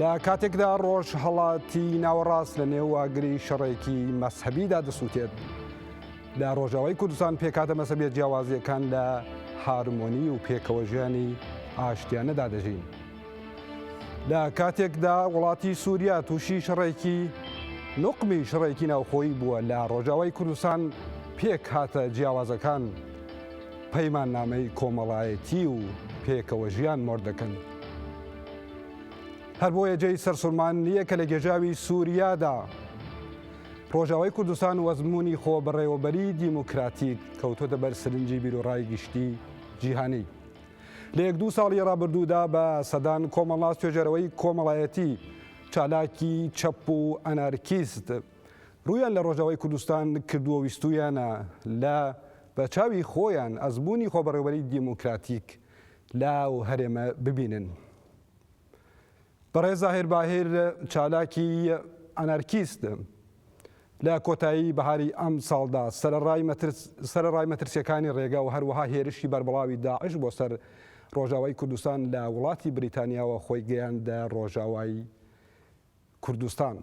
لە کاتێکدا ڕۆژهەڵاتی ناوەڕاست لە نێو واگری شەڕێکی مەسهبیدا دەسووتێت لە ڕۆژاوای کوردستان پێکاتە مەسەبێت جیاوازیەکان لە هارمۆنی و پێکەوە ژیانی ئاشتیانەدا دەژین. لە کاتێکدا وڵاتی سووریا تووشی شەڕێکی نقمی شڕێکی ناوخۆی بووە لە ڕۆژاوای کوردستان پێک هاتە جیاوازەکان پەیمان نامەی کۆمەڵایەتی و پێکەوە ژیان مۆر دەکەن. هەر بۆیە جێی سەرسوڕمان نییە کە لە گێژاوی سووریادا ڕۆژاوای کوردستان وەزمونی خۆبڕێوەبەری دیموکراتیک کەوتۆتە بەر سرنجی بیرۆڕای گشتی جیهانی. لە یەک دوو ساڵی ڕابردوودا بە سەدان کۆمەڵناس توێژەرەوەی کۆمەڵایەتی چالاکی چەپ و ئەنارکیست ڕویان لە ڕۆژاوای کوردستان کردووە ویستویانە لە بە چاوی خۆیان ئەزمموی خۆبڕێوبەری دیموکراتیک لە و هەرێمە ببینن. بەڕێز زاهیر باهیر چالاکی ئەنارکیست لە کۆتایی بەهاری ئەم ساڵدا سەرەڕای مەترسیەکانی ڕێگا و هەروەها هێرشی بەربڵاوی داعش بۆ سەر ڕۆژاوای کوردستان لە وڵاتی بریتانیاوە خۆی گەیاندە ڕۆژاوای کوردستان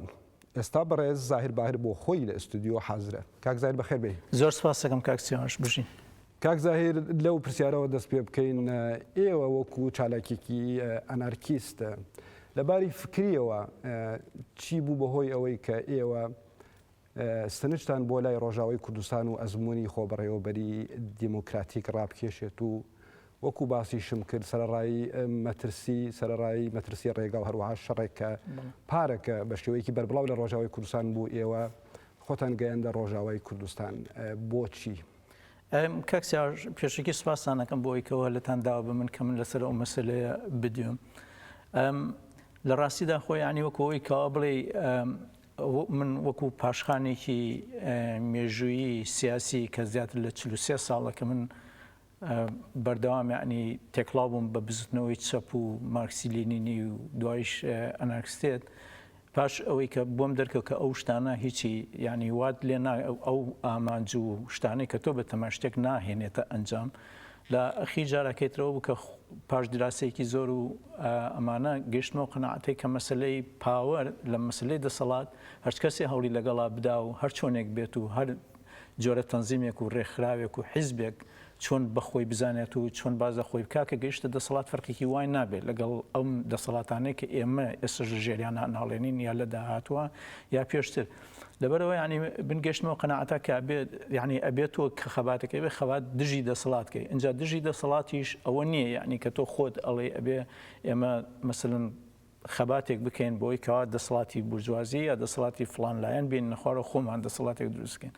ئێستا بەڕێز زاهیر باهر بۆ خۆی لە ئستودیۆ حازرە. کاک زاهیر بەخێر بێی. زۆر سپاستەکەم کاک سیاوەش بژین. کاک زاهیر لەو پرسیارەوە دەست پێ بکەین ئێوە وەکو چالاکێکی ئەنارکیست لە باری فکریەوە چی بوو بەهۆی ئەوەی کە ئێوە ستنجتان بۆ لای ڕۆژاوای کوردستان و ئەزموونی خۆبەڕێوەبەری دیموکراتیک ڕابکێشێت و وەکو باسیشم کرد سەرەڕای مەترسی سەرەڕای مەترسی ڕێگا و هەروەها شەڕێک کە پارەکە بە شێوەیەکی بەربڵاو لە ڕۆژاوای کوردستان بوو ئێوە خۆتان گەیاندە ڕۆژاوای کوردستان بۆچی؟ کاک سیاوەر پێشەکی سوپاستان دەکەم بۆ ئەوی کەوە لەتان داوا بە من کە من لەسەر ئەو مەسلەیە بدوێم لە ڕاستیدا خۆ یانی وەکەوەی کەوا بڵێ من وەکو پاشخانێکی مێژوویی سیاسی کە زیاتر لە چل و سێ ساڵە کە من بەردەوام یعنی تێکڵاو بووم بە بزوتنەوەی چەپ و مارکسی لینینی و دوایش ئەنارکستێت پاش ئەوەی کە بۆم دەرکەوت کە ئەو شتانە هیچی یعنی وات لێ ئەو ئامانج و شتانەی کە تۆ بە تەماشتێک ناهێنێتە ئەنجام لە خی جارەکەی ترەوە بوو کە پاش دراسەیەکی زۆر و ئەمانە گەشتمەوە قەناعەتێک کە مەسلەی پاوەر لە مەسلەی دەسەڵات هەرچ کەسێ هەوڵی لەگەڵا بدا و هەر چۆنێک بێت و هەر جۆرە تەنزیمێک و ڕێکخراوێک و حیزبێک چۆن بەخۆی بزانێت و چۆن باز لە خۆی بکا کە گەیشتە دەسەڵات فەرقێکی وای نابێت لەگەڵ ئەم دەسەڵاتانەی کە ئێمە ئێسش ژێریان ناڵێنین یا لە داهاتوە یا پێشتر. لەبەرەوە یعنی من گەشتمەوە قەنەعەتە کە بێت یعنی ئەبێت تۆ کە خەباتەکەی بێ خەبات دژی دەسەڵات کەی ئەجا دژی دەسەڵاتیش ئەوە نییە یعنی کە تۆ خۆت ئەڵێ ئەبێ ئێمە مثلن خەباتێک بکەین بۆی کەوا دەسەڵاتی برجوازی یا دەسەڵاتی فلان لایەن بین نەخوارە خۆمان دەسەڵاتێک دروستکەین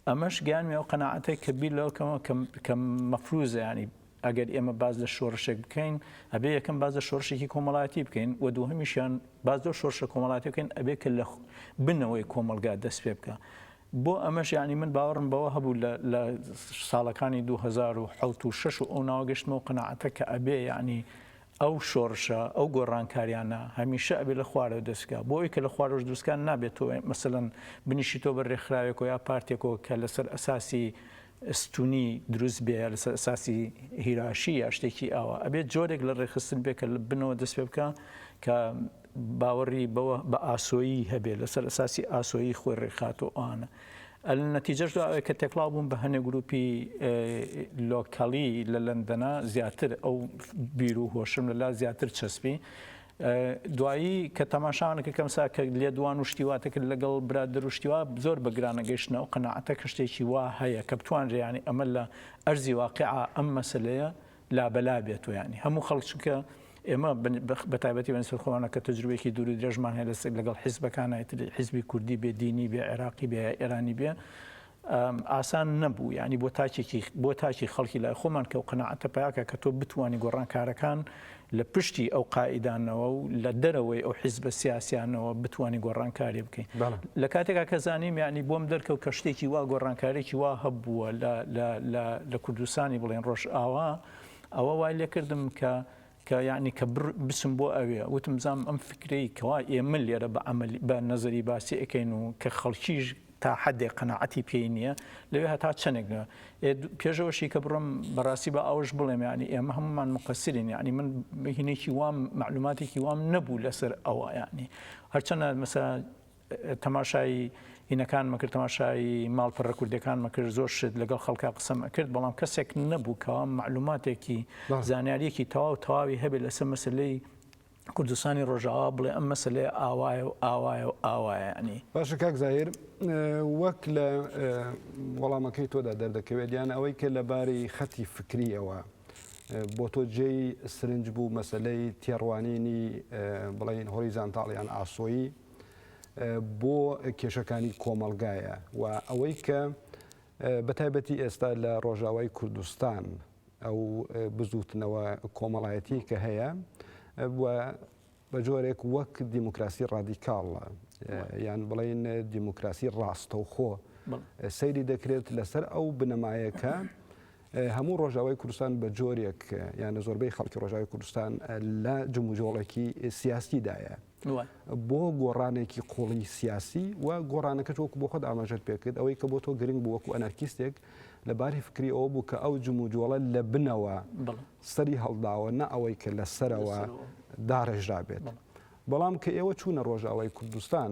ئەمەش گیانمی ئەو قەنەعاتێک کە بیر لەوکەمەوە کەم مەفروزە ینی ئەگەر ئێمە باس لە شۆڕشێک بکەین ئەبێ یەکەم باس لە شۆڕشێکی کۆمەڵایەتی بکەین و دووهمیشیان باس لەو شۆڕشە کۆمەڵاتی بکەین ئەبێ کە لە بنەوەی کۆمەلگا دەست پێ بکە. بۆ ئەمەش یعنی من باوەڕم بەوە هەبوو لە ساڵەکانی 2010 و 6 و ئەو ناوە گەشتمەوە قەنەعەتە کە ئەبێ یعنی ئەو شۆڕشە ئەو گۆڕانکاریانە هەمیشە ئەبێ لە خوارەوە دەستکە بۆ ئەوی کە لە خوارەوەش دروستکان نابێتەوە مەسەن بنیشیتەوە بە رێکخراوێکەوە یا پارتێکەوە کە لەسەر ئەساسی ستونی دروست بێ لەسەر ئەساسی هیراشی یا شتێکی ئاوا ئەبێت جۆرێک لە ڕێکخستن بێ کە لە بنەوە دەست پێ بکا کە باوەڕی بەوە بە ئاسۆیی هەبێ لەسەر ئەساسی ئاسۆیی خۆی ڕێکخات و ئەوانە ئەل نەتیجەش دا ئەوەیە کە تێکڵاو بوون بە هەنێ گروپی لۆکەڵی لە لەندەنا زیاتر ئەو بیر و هۆشم لەلا زیاتر چەسپی دوایی کە تەماشاوان کە کەم سا کە لێدوان و شتیواتە کرد لەگەڵ برادر و شتیوا زۆر بە گرانە گەیشتنە و قەناعەتە کە شتێکی وا هەیە کە بتوانرێ یانی ئەمە لە ئەرزی واقیعا ئەم مەسەلەیە لابەلا بێت و یانی هەموو خەڵک چونکە ئێمە بە تایبەتی بەن سەرخۆوانە کە تەجروێکی دوور و درێژمان هەیە لەسەر لەگەڵ حیزبەکانایتر حیزبی کوردی بێ دینی بێ عێراقی بێ ئێرانی بێ ئاسان نەبوو یانی بۆ تاکێکی بۆ تاکی خەڵکی لای خۆمان کە و قەناعەتە پیاکە کە تۆ بتانی گۆڕانکارەکان لە پشتی ئەو قائیدانەوە و لە دەرەوەی ئەو حیزبە سیاسیانەوە بتانی گۆڕانکاری بکەین لە کاتێکا کە زانیم یعنی بۆم دەرکەوت کە شتێکی وا گۆڕانکارێکی وا هەبووە لە کوردستانی بڵێن ڕۆژ ئاوا ئەوە وای لێکردم کە کە یەعنی کە بڕ بچم بۆ ئەوێ وتم بزانم ئەم فکرەی کەوا ئێمە لێرە بە عەمەلی بە نەزەری باسی ئەکەین و کە خەڵکیش تا حەدێک قەناعەتی پێی نییە لەوێ هەتا چەنێک نە پێشەوەشی کە بڕم بەڕاستی بە ئەوش بڵێم یعنی ئێمە هەمومان مقەسرین یعنی من هینێکی وام معلوماتێکی وام نەبوو لەسەر ئەوە یعنی هەرچەنە مەسە تەماشای هینەکانمە کرد تەماشای ماڵپەڕە کوردەکانمە کرد زۆر شت لەگەڵ خەڵکا قسەم ئەکرد بەڵام کەسێک نەبوو کەوا معلوماتێکی زانیاریەکی تەواو تەواوی هەبێت لەسەر مەسلەی کوردستانی ڕۆژاوا بڵێ ئەم مەسلێ ئاوایە و ئاوایە و ئاوایانی باشە کاک زاهر وەک لە وەڵامەکەی تۆدا دەردەکەوێت دیان ئەوەی کە لە باری خەتی فکریەوە بۆ تۆ جێی سرنج بوو مەسلەی تێڕوانینی بڵین هۆی زانتاڵیان ئاسۆیی بۆ کێشەکانی کۆمەڵگایە و ئەوەی کە بە تایبەتی ئێستا لە ڕۆژاوای کوردستان ئەو بزوتنەوە کۆمەڵایەتی کە هەیە بە جۆرێک وەک دیموکراسی ڕادیکاڵە یان بڵین دیموکراسی ڕاستەوخۆ سەیری دەکرێت لەسەر ئەو بنەمایەکە هەموو ڕۆژاوای کوردستان بە جۆرێک یانە زۆربەی خەڵکی ڕۆژاوی کوردستان لە جموجۆڵێکی سیاستیدایە بۆ گۆڕانێکی قوڵی سیاسی و گۆڕانەکەش وەکو بۆ خۆت ئاماژەت پێکرد ئەوەی کە بۆ تۆ گرنگ بوو وەکو ئەنارکیستێک لە باری فکری ئەوە بوو کە ئەو جموجۆڵە لە بنەوە سەری هەڵداوە نە ئەوەی کە لە سەرەوە داڕێژرابێت بەڵام کە ئێوە چوونە ڕۆژاوای کوردستان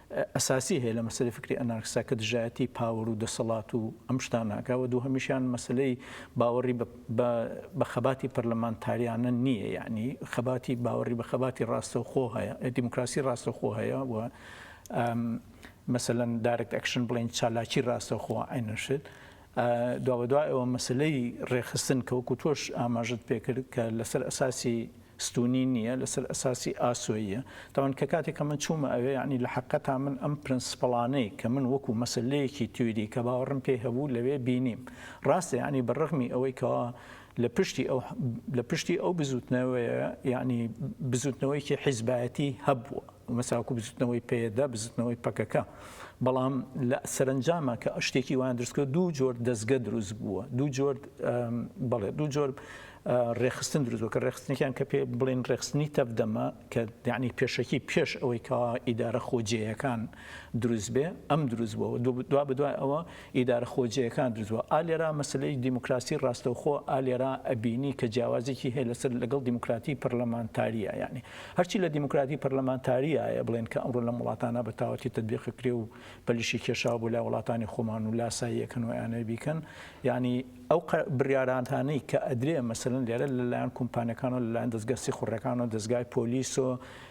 ئەساسی هەیە لە مەسەلەی فکری ئەنارکسا کە دژایەتی پاوەر و دەسەڵات و ئەم شتانە ئەکا و دووهەمیشیان مەسەلەی باوەڕی بە خەباتی پەرلەمانتاریانە نییە یانی خەباتی باوەڕی بە خەباتی ڕاستەوخۆ هەیە دیموکراسی ڕاستەخۆ هەیە و مەسەلەن دارکت ئەکشن بڵین چالاکی ڕاستەخۆ ئەینەشت دوابەدوای ئەوە مەسەلەی رێکخستن کە وەکو تۆش ئاماژەت پێکرد کە لەسەر ئەساسی ستونی نییە لەسەر ئەساسی ئاسۆییە تاوان کە کاتێک کە من چوومە ئەوێ یعنی لە حقەتا من ئەم پرنسپڵانەی کە من وەکو مەسلەیەکی تیوری کە باوەڕم پێی هەبوو لەوێ بینیم ڕاستە یعنی بە ڕغمی ئەوەی کەوا لە پشتی ئەو لە پشتی ئەو بزوتنەوەیە یعنی بزوتنەوەیکی حیزبایەتی هەبووە مەساکو بزوتنەوەی پێدا بزوتنەوەی پەکەکە بەڵام لە سەرنجامە کە شتێکی وان درستکە دوو جۆر دەستگە دروست بووە دوو جۆر بڵێ دوو جۆر ڕێخستن دروستوە کە ڕێخستنێکیان کە پێ بڵێن ڕێخستنی تەفدەمە کە دیانی پێشەکی پێش ئەوەی کا ئیدارە خۆجێیەکان دروست بێ ئەم دروست بوە و دوا بەدوای ئەوە ئیدارە خۆجێیەکان دروست بوە ئا لێرا مەسەلەی دیموکراسی ڕاستەوخۆ ئا لێرا ئەبینی کە جیاوازێکی هەیە لەسەر لەگەڵ دیموکراتی پەرلەمانتاریە یانی هەرچی لە دیموکراتی پەرلەمانتاریایە بڵێن کە ئەمڕۆ لەم وڵاتانە بە تاوەتی تەتبیقی کرێ و پەلیشی کێشاو بۆ لای وڵاتانی خۆمان و لاساییەکەن و ئەیانەوێ بیکەن یانی ئەو بڕیارانتانەی کە ئەدرێ مەسەلەن لێرە لەلایەن کومپانیەکان و لەلایەن دەزگا سیخوڕەکان و دەزگای پۆلیس و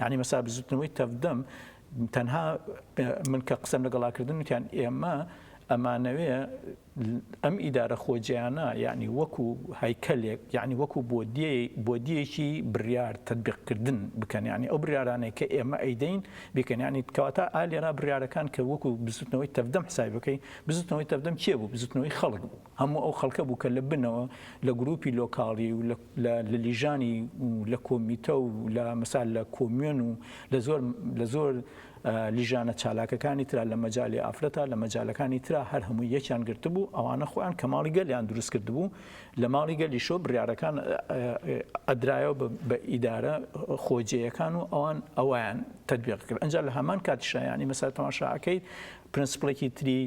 یانی مەسا بزوتنەوەی تەڤدەم تەنها من کە قسەم لەگەڵا کردن وتیان ئێمە ئەمانەوێ ئەم ئیدارە خۆجیانە یعنی وەکو هەیکەلێک یعنی وەکو بۆدیەکی بڕیار تدبیقکردن بکەن ینی ئەو بریارانەی کە ئێمە ئەیدەین بکەنیانی کەواتا ئالێرا بریارەکان کە وەکو بزوتنەوەی تەفدەم حسای بکەین بزوتنەوەی تەفدەم کێ بوو بزوتنەوەی خەڵک بوو هەموو ئەو خەڵکە بوو کە لە بنەوە لە گروپی لۆکاڵی و لە لیژانی و لە کۆمیتە و لە مەسال لە کۆمیۆن و لە زۆر لە زۆر لیژانە چالاکەکانی تررا لە مەجای ئافرەتە لە مەجالەکانی تررا هەر هەموو یەکیان گرتبوو ئەوانە خۆیان کە ماڵی گەلیان دروست کردبوو لە ماڵی گەلیشۆ بڕارەکان ئەدرایەوە بە ئیدارە خۆجێیەکان و ئەوان ئەویان تدبیق کرد ئەجا لە هەمان کاتیشایانی مەسا تەماشاکەیت پرنسپلێکی تری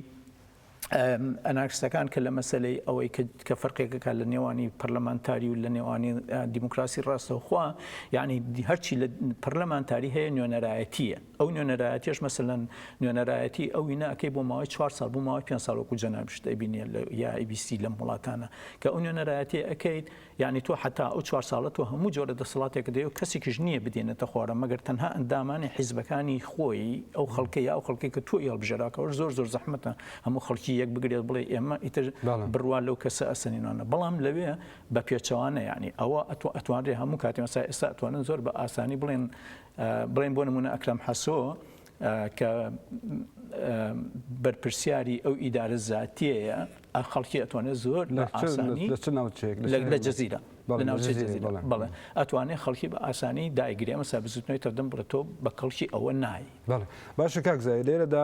ئەنارکستەکان کە لە مەسەلەی ئەوەی کە فەرقێکەکە لە نێوانی پەرلەمانتاری و لە نێوانی دیموکراسی ڕاستەوخوا یعنی هەرچی لە پەرلەمانتاری هەیە نوێنەرایەتیە ئەو نوێنەرایەتیش مەسەن نوێنەرایەتی ئەو ناکەی بۆ ماوەی چوار سال بوو ماوەی پێ ساڵۆکو جەنابشت ئەبینێ لە یاعیبیسی لەم وڵاتانە کە ئەو نوێنەرایەتی ئەەکەیت یەعنی تۆ حەتا ئەو چوار ساڵە تۆ هەموو جۆرە دەسەڵاتێکت هەیەو کەسێکیش نییە بدێنێتە خوارە مەگەر تەنها ئەندامانی حیزبەکانی خۆی ئەو خەڵکەی یا ئەو خەڵکەی کە تۆی هەڵبژێرا کەوەش زۆر زۆر زەحمەتە هەموو خەڵکی یەک بگرێت بڵێ ئێمە ئیتر بڕوا لەو کەسە ئەسەنینانە بەڵام لەوێ بە پێچەوانە یەعنی ئەوە ئەتۆ ئەتوانرێ هەموو کاتێ مەسا ئێستا ئەتوانن زۆر بە ئاسانی بڵێن بڵێن بۆ نمونە ئەکرەم حەسۆ کە بەرپرسیاری ئەو ئیدارە زاتیەیە خەڵکی ئەتوانێت زۆر لە ئاسانی لە جززیرە بەڵێ ئەتوانێت خەڵکی بە ئاسانی دایگرێ مەسا بزوتنەوەی تەدەم بڕێتۆ بە کەڵکی ئەوە نای باشە کاکزای لێرەدا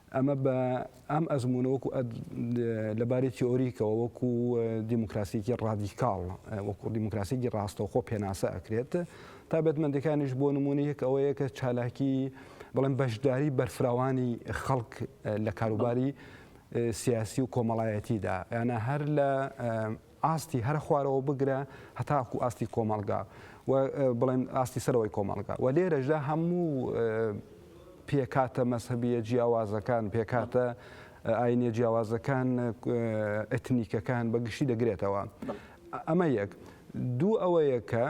ئەمە بە ئەم ئەزموونە وەکو لە باری تیۆریکەوە وەکو دیموکراسیکی ڕادیکاڵ وەکو دیموکراسیکی ڕاستەوخۆ پێناسە ئەکرێت تا بەتمەندەکانیش بۆ نمونە یەک ئەوەیە کە چالاکی بڵێن بەشداری بەرفراوانی خەڵک لە کاروباری سیاسی و کۆمەڵایەتیدا یانە هەر لە ئاستی هەرە خوارەوە بگرە هەتاکوو ئاستی کۆمەڵگا و بڵێن ئاستی سەرەوەی کۆمەڵگا و لێرەشدا هەموو پێکاتە مەسەبیە جیاوازەکان پێکاتە ئاینە جیاوازەکان ئەتنیکەکان بە گشتی دەگرێتەوە ئەمە یەک دوو ئەوەیە کە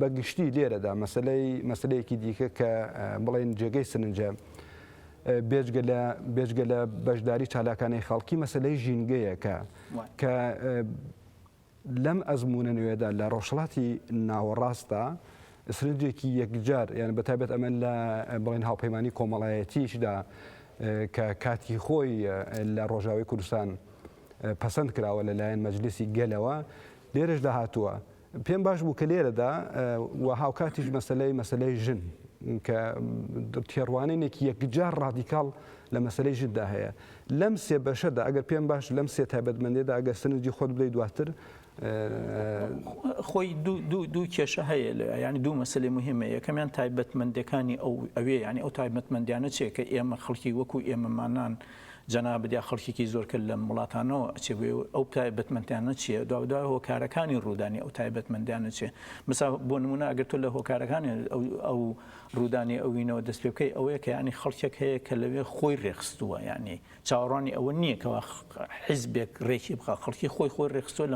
بە گشتی لێرەدا مەسلەی مەسلەیەکی دیکە کە بڵێن جێگەی سنجە بێجگە لە بێجگە لە بەشداری چالاکانەی خەڵکی مەسلەی ژینگەیەکە کە لەم ئەزموونە نوێدا لە ڕۆژهەڵاتی ناوەڕاستدا سرنجێکی یەکجار یان بەتابێت ئەمە لە بڵێن هاوپەیمانانی کۆمەڵایەتیشدا کە کاتی خۆی لە ڕۆژاوی کوردستان پەسەند کراوە لەلایەن مەجلسی گەلەوە لێرەشدا هاتووە پێم باش بوو کە لێرەدا و هاوکاتیش مەسەلەی مەسەلەی ژن کە تێڕوانینێکی یەکجار ڕادیکاڵ لە مەسەلەی ژندا هەیە لەم سێ بەشەدا ئەگەر پێم باش لەم سێ تایبەتمەندێدا ئەگەر سنجی خۆت بدەی دواتر خۆی دوو کێشە هەیە لە ینی دوو مەسلی مهمە یەکەمیان تایبەتمەندەکانی ئەو ئەوێ ینی ئەو تایبەتمەندیانە چێکە ئێمە خەڵکی وەکو ئێمەمانان جەنابت یا خەڵکێکی زۆر کە لەم وڵاتانەوە ئەچێ بۆ ئێوە ئەو تایبەتمەندیانە چییە؟ دوابەدوای هۆکارەکانی ڕوودانی ئەو تایبەتمەندیانە چییە؟ بسا بۆ نموونە ئەگەر تۆ لە هۆکارەکانی ئەو ڕوودانی ئەوینەوە دەست پێ بکەی ئەوەیە کە یانی خەڵکێک هەیە کە لەوێ خۆی ڕێکخستووە یانی چاوەڕوانی ئەوە نییە کەوا حیزبێک ڕێکی بخا خەڵکی خۆی خۆی ڕێخستووە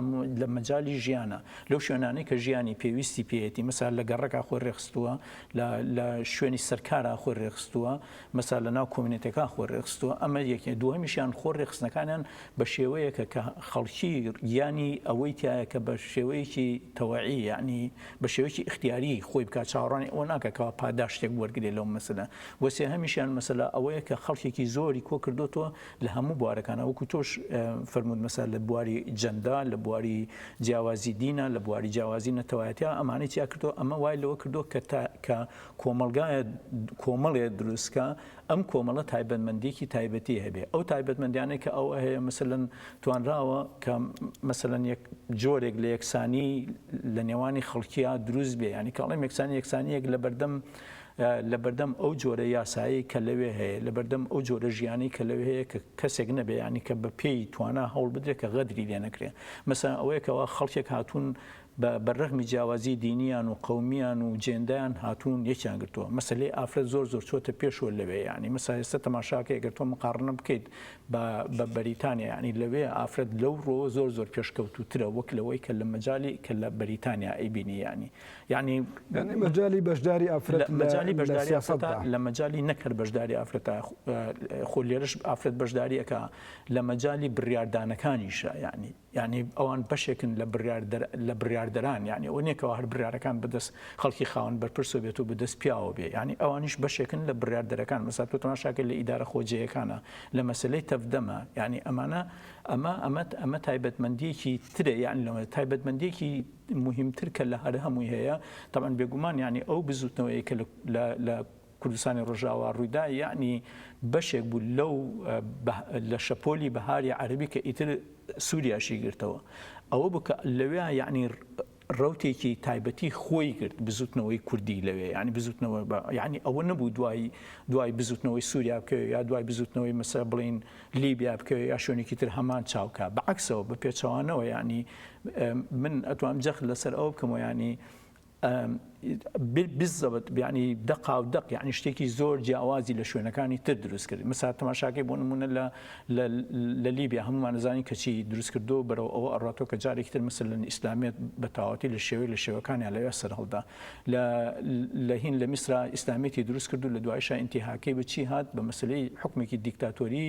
لە مەجای ژیانە لەو شوێنانەی کە ژیانی پێویستی پێیەتی مەسا لە گەڕەکە خۆی ڕێخستووە لە شوێنی سەرکارە خۆی ڕێخستووە مەسا لە ناو کۆمینەتەکان خۆی ڕێکخستووە ئەمە یەکێ دووهەمیشیان خۆ ڕێکخستنەکانیان بە شێوەیەکە کە خەڵکی گیانی ئەوەی تایە کە بە شێوەیەکی تەوەعی یانی بە شێوەیەکی ئیختیاری خۆی بکات چاوەڕانی ئەوە ناکە کەوا پاداشتێک وەرگێ لەو مەسەلە وە سێهەمیشیان مەسەلا ئەوەیە کە خەڵکێکی زۆری کۆ کردوتەوە لە هەموو بوارەکانە وەکو تۆش فەرموود مەسا لە بواری جەندا لە بواری جیاوازی دینە لە بواری جیاوازی نەتەوایەتیا ئەمانەی تیا کردووە ئەمە وای لەوە کردووە کە تا کە کۆمەڵگایە کۆمەڵێ دروستکە ئەم کۆمەڵە تایبەتمەندیکی تایبەتی هەبێ ئەو تایبەتمەندیانەی کە ئەو هەیە مثلەن توانراوە کە مثلەن یەک جۆرێک لە یەکسانی لە نێوانی خەڵکییا دروست بێ ینی کاڵێم یەکسانی یەکسانیەک لە بەردەم لە بەردەم ئەو جۆرە یاسایی کە لەوێ هەیە لە بەردەم ئەو جۆرە ژیانی کە لەوێ هەیە کە کەسێک نەبێ ینی کە بە پێی توانا هەوڵ بدرێت کە غەدری لێ نەکرێن مەسا ئەوەیەکەوە خەڵکێک هاتوون بە بەرەغمی جیاوازی دینیان و قەومیان و جێندایان هاتوون یەکیان گرتووە مەسەلەی ئافرەت زۆر زۆر چۆتە پێشوە لەوێ یانی مەسا ئێستا تەماشاکەی گەر تۆ مقاڕنە بکەیت بە بە بەریتانیا یانی لەوێ ئافرەت لەو ڕۆ زۆر زۆر پێشکەوتوترە وەک لەوەی کە لە مەجای کە لە بەریتانیا ئەیبینی یانی یعنی مەجای بەشداری ئافرەت مەجای بەشداری ئافرەت لە مەجای نەکرد بەشداری ئافرەت خۆ لێرش ئافرەت بەشداریەکە لە مەجای بڕاردانەکانیشە یعنی یانی ئەوان بەشێکن لە بڕیاردەر لە بڕیاردەران یانی ئەوە نیە کەوا هەر بڕیارەکان بەدەست خەڵکی خاوەن بەرپرسەوە بێت و بەدەست پیاوەوە بێ یانی ئەوانیش بەشێکن لە بڕیاردەرەکان مەسەلەن تۆ تەماشاکە لە ئیدارە خۆجێیەکانە لە مەسەلەی تەڤدەمە یانی ئەمانە ئەمە ئەمە ئەمە تایبەتمەندیەکی ترە یان لەوە تایبەتمەندیەکی مهمتر کە لە هەر هەمووی هەیە تەبەن بێگومان یانی ئەو بزوتنەوەیە کە لە لە کوردستانی ڕۆژاوا ڕوویدا یەعنی بەشێک بوو لەو لە شەپۆلی بەهاری عەرەبی کە ئیتر سووریاشی گرتەوە ئەوە بوو کە لەوێ یەعنی ڕوتێکی تایبەتی خۆی گرت بزوتنەوەی کوردی لەوێ ینی بزوتنەوە بە ینی ئەوە نەبوو دوای دوای بزوتنەوەی سووریا بکەوێت یا دوای بزوتنەوەی مەسە بڵین لیبیا بکەوێت یا شوێنێکی تر هەمان چاوکە بەعکسەوە بە پێچەوانەوە ینی من ئەتوام جەخت لەسەر ئەو بکەمەوە ینی بالضبط یانی دەقا و دەق یانی شتێکی زۆر جیاوازی لە شوێنەکانی تر دروست کرد مسا تەماشاکەی بۆ نمونە لە لە لیبیا هەمومان نزانانی کەچی دروست کردو بەرەو ئەوە ئەڕاتۆ کە جارێکی تر مسل ئیسلامیت بە تاواتی لە شێوەی لە شێوەکانیان لەوێ سەر هەڵدا لە لە هین لە میسرا ئیسلامیتی دروست کردو لە دوایشا ئینتیهاکەی بە چی هات بە مەسلەی حکومێکی دیکتاتۆری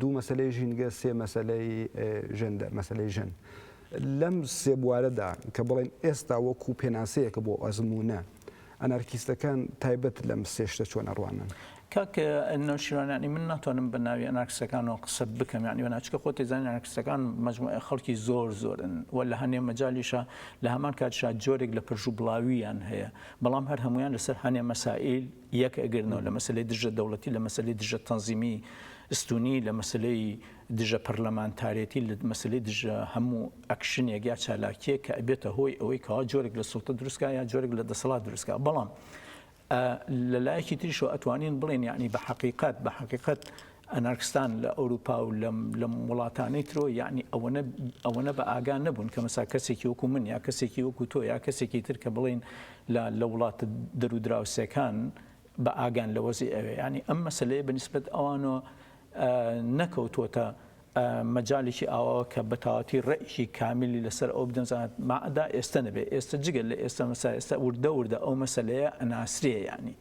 دوو مەسەلەی ژینگە، سێ مەسەلەی ژێندەر، مەسەلەی ژن. لەم سێ بوارەدا کە بڵێین ئێستا وەکوو پێناسەیەکە بۆ ئەزموونە، ئەنارکیستەکان تایبەت لەم سێ شتە چۆن ئەڕوانن؟ کاک نەوشیروان یانی من ناتوانم بە ناوی ئەنارکستەکانەوە قسە بکەم یانی وەنا چکە خۆت دەزانی ئەنارکستەکان مجموعە خەڵکی زۆر زۆرن و لە هەنێ مەجالیشە لە هەمان کاتشا جۆرێک لە پرژوبڵاوییان هەیە بەڵام هەر هەمویان لەسەر هەنێ مەسائیل یەک ئەگرنەوە لە مەسەلەی دژە دەوڵەتی، لە مەسەلەی دژە تەنزیمی ستونی، لە مەسەلەی دژە پەرلەمانتارێتی، لە مەسەلەی دژە هەموو ئەکشنێک یا چالاکییەک کە ئەبێتە هۆی ئەوەی کەوا جۆرێک لە سوڵتە دروست کا یا جۆرێک لە دەسەڵات دروست کا. بەڵام لە لایەکی تریشەوە ئەتوانین بڵێین یەعنی بە حەقیقەت بە حەقیقەت ئەنارکستان لە ئەوروپا و لەم وڵاتانەی ترەوە یەعنی ئەوەنە بە ئاگا نەبوون کە مەسا کەسێکی وەکو من یا کەسێکی وەکو تۆ یا کەسێکی تر کە بڵێین لە وڵاتە دەرو دراوسێکان بە ئاگان لە وەزعی ئەوێ یەعنی ئەم مەسەلەیە بە نیسبەت ئەوانەوە نەکەوتووەتە مەجالێکی ئاواوە کە بە تەواوەتی ڕێکی کامیلی لەسەر ئەو بدەن زانت مەعەدا ئێستە نەبێ ئێستە جگە لە ئێستە مەسا ئێستە وردە وردە ئەو مەسەلەیە ئەناسرێ یەعنی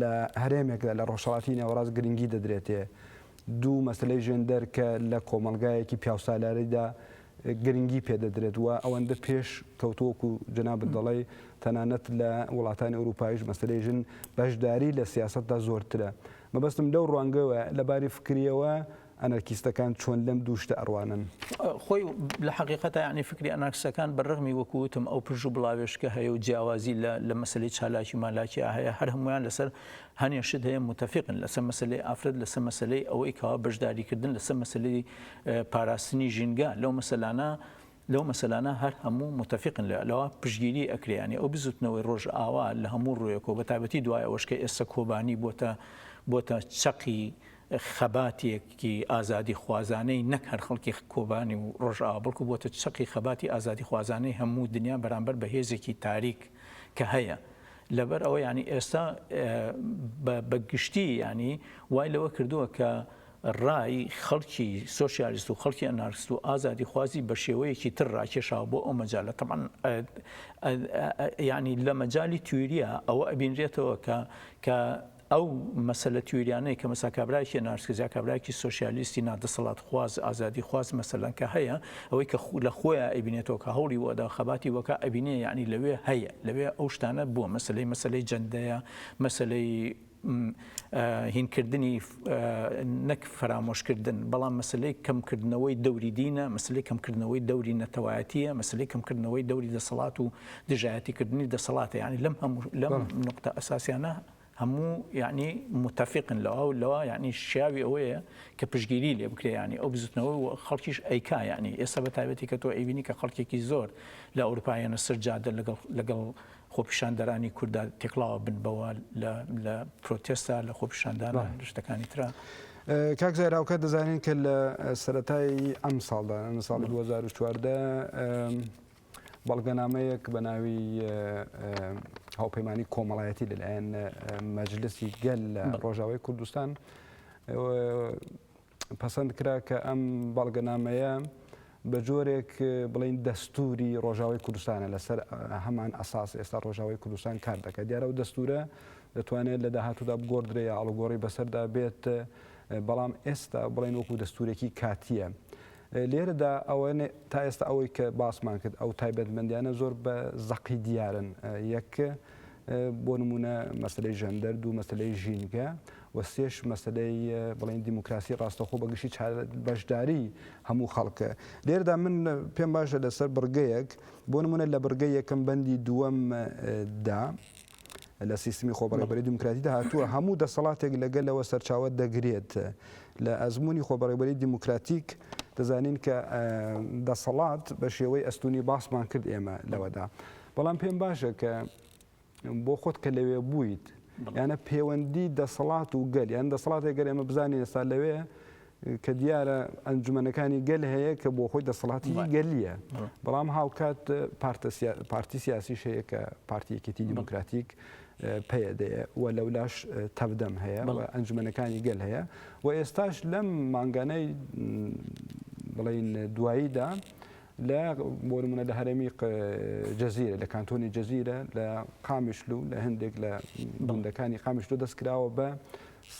لە هەرێمێکدا لە ڕۆژهەڵاتی نێوەڕاست گرنگی دەدرێتێ دوو مەسلەی ژێندەر کە لە کۆمەڵگایەکی پیاوسالاریدا گرنگی پێدەدرێت و ئەوەندە پێش کەوتووەک و جەنابت دەڵی تەنانەت لە وڵاتانی ئەوروپایش مەسلەی ژن بەشداری لە سیاستدا زۆرترە مەبەستم لەو ڕوانگەوە لەباری فکریەوە ئەنەرکیستەکان چۆن لەم دوو شتە ئەڕوانن؟ خۆی لە حەقیقەتا یەعنی فکری ئەنارکسەکان بە ڕەغمی وەکو وتم ئەو پرژ و بڵاوێشکە هەیە و جیاوازی لە لە مەسەلەی چالاکی مالاکیا هەیە هەر هەموویان لەسەر هەنێ شت هەیە موتەفیقن لەسەر مەسەلەی ئافرەت لەسەر مەسەلەی ئەوەی کەوا بەشداری کردن لەسەر مەسەلەی پاراستنی ژینگە لەو مەسەلانە لەو مەسەلانە هەر هەموو موتەفیقن لە لەوە پشگیری ئەکرێ یەعنی ئەو بزوتنەوەی ڕۆژئاوا لە هەموو ڕوویەکەوە بە تایبەتی دوای ئەوەش کە ئێستا کۆبانی بۆتە بۆتە چەقی خەباتێکی ئازادیخوازانەی نەک هەر خەڵکی کۆبانی و ڕۆژئاوا بەڵکو بووەتە چەقی خەباتی ئازادیخوازانەی هەموو دنیا بەرامبەر بە هێزێکی تاریک کە هەیە لەبەر ئەوە یانی ئێستا بە گشتی یانی وای لەوە کردووە کە ڕای خەڵکی سۆسیالیست و خەڵکی ئەنارست و ئازادی خوازی بە شێوەیەکی تر ڕاکێشاوە بۆ ئەو مەجالە تەمان ینی لە مەجای تویریا ئەوە ئەبینرێتەوە کە کە ئەو مەسەلە تیۆریانەی کە مەسا کابرایەکی نارسکزا کابرایەکی سۆشیالیستی نا دەسەڵات خواز ئازادی خواز مەسەلەن کە هەیە ئەوەی کە لە خۆیا ئەیبینێتەوە کە هەوڵی بۆ ئەدا خەباتی بۆ کا ئەبینێ یەعنی لەوێ هەیە لەوێ ئەو شتانە بووە مەسەلەی مەسەلەی جەندەیە مەسەلەی هین کردنی نەک فەرامۆش کردن بەڵام مەسلەی کەم کردنەوەی دەوری دینە مەسلەی کەم کردنەوەی دەوری نەتەوایەتیە مەسلەی کەم کردنەوەی دەوری دەسەڵات و دژایەتی کردنی دەسەڵاتە یعنی لەم هەموو لەم نقطە ئەساسیانە هەموو یعنی متفقن لەوا و لەوا یعنی شیاوی ئەوەیە کە پشگیری لێ بکرێ ینی ئەو بزوتنەوە و خەڵکیش ئەیکا ینی ئێستا بە تایبەتی کە تۆ ئەیبینی کە خەڵکێکی زۆر لە ئەوروپایانە سەر جادە لەگەڵ لەگەڵ خۆپیشاندەرانی کووردا تێکڵاوە بن بەوە لە پرۆتێستا لە خۆپیشاندان شتەکانی تررا. کاک زایراوکە دەزانین کە لە سەتایی ئەم ساڵدا ساڵی 2014 بەڵگەنامەیەک بە ناوی هاوپەیمانی کۆمەڵایەتی لەلایەن مەجلسی گەل لە ڕۆژاوای کوردستان پەسەند کرا کە ئەم بەڵگەنامەیە بە جۆرێک بڵین دەستوری ڕۆژاوی کوردستانە لەسەر هەمان ئەساس ئێستا ڕۆژاوی کوردستان کار دەکات دیارە و دەستورە دەتوانێت لە داهاتوودا بگۆدرێ یا ئەڵگۆڕی بەسەردا بێت بەڵام ئێستا بڵێن وەکو دەستورێکی کاتیە. لێرەدا ئەوە تا ئێستا ئەوەی کە باسمان کرد ئەو تایبەتمەندیانە زۆر بە زەقی دیارن یەک بۆ نمونە مەسلەی ژەندەر دوو مەسلەی ژینگە و سێش مەسلەی بڵین دیموکراسی ڕاستەخۆ بەگشتی بەشداری هەموو خەڵکە لێردا من پێم باشە لەسەر بڕگەیەک بۆ نمونە لە بڕگە یەکەم بەندی دووەم دا لە سیستمی خۆبەڕێوبەری دیموکراتیدا هاتووە هەموو دەسەڵاتێک لە گەلەوە سەرچاوە دەگرێت. لە ئەزموونی خۆبەڕێوبەری دیموکراتیک دەزانین کە دەسەڵات بە شێوەی ئەستونی باسمان کرد ئێمە لەوەدا. بەڵام پێم باشە کە بۆ خۆت کە لەوێ بوویت یانە پەیوەندی دەسەڵات و گەل یان دەسەڵاتێک گەر ئێمە بزانین ئێستا لەوێ کە دیارە ئەنجومەنەکانی گەل هەیە کە بۆ خۆی دەسەڵاتی گەلیە بەڵام هاوکات پارتی سیاسیش هەیە کە پارتیەکێتی دیموکراتیک پەیەدەیە و لەولاش تەبدەم هەیە ئەنجومەنەکانی گەل هەیە و ئێستاش لەم مانگانەی بڵین دواییدا لە بۆرمونە لە هەرێمی جەزیرە لە کانتۆنی جەزیرە لە قامیشلو لە هەندێک لە بندەکانی قامیشلو دەستکراوە بە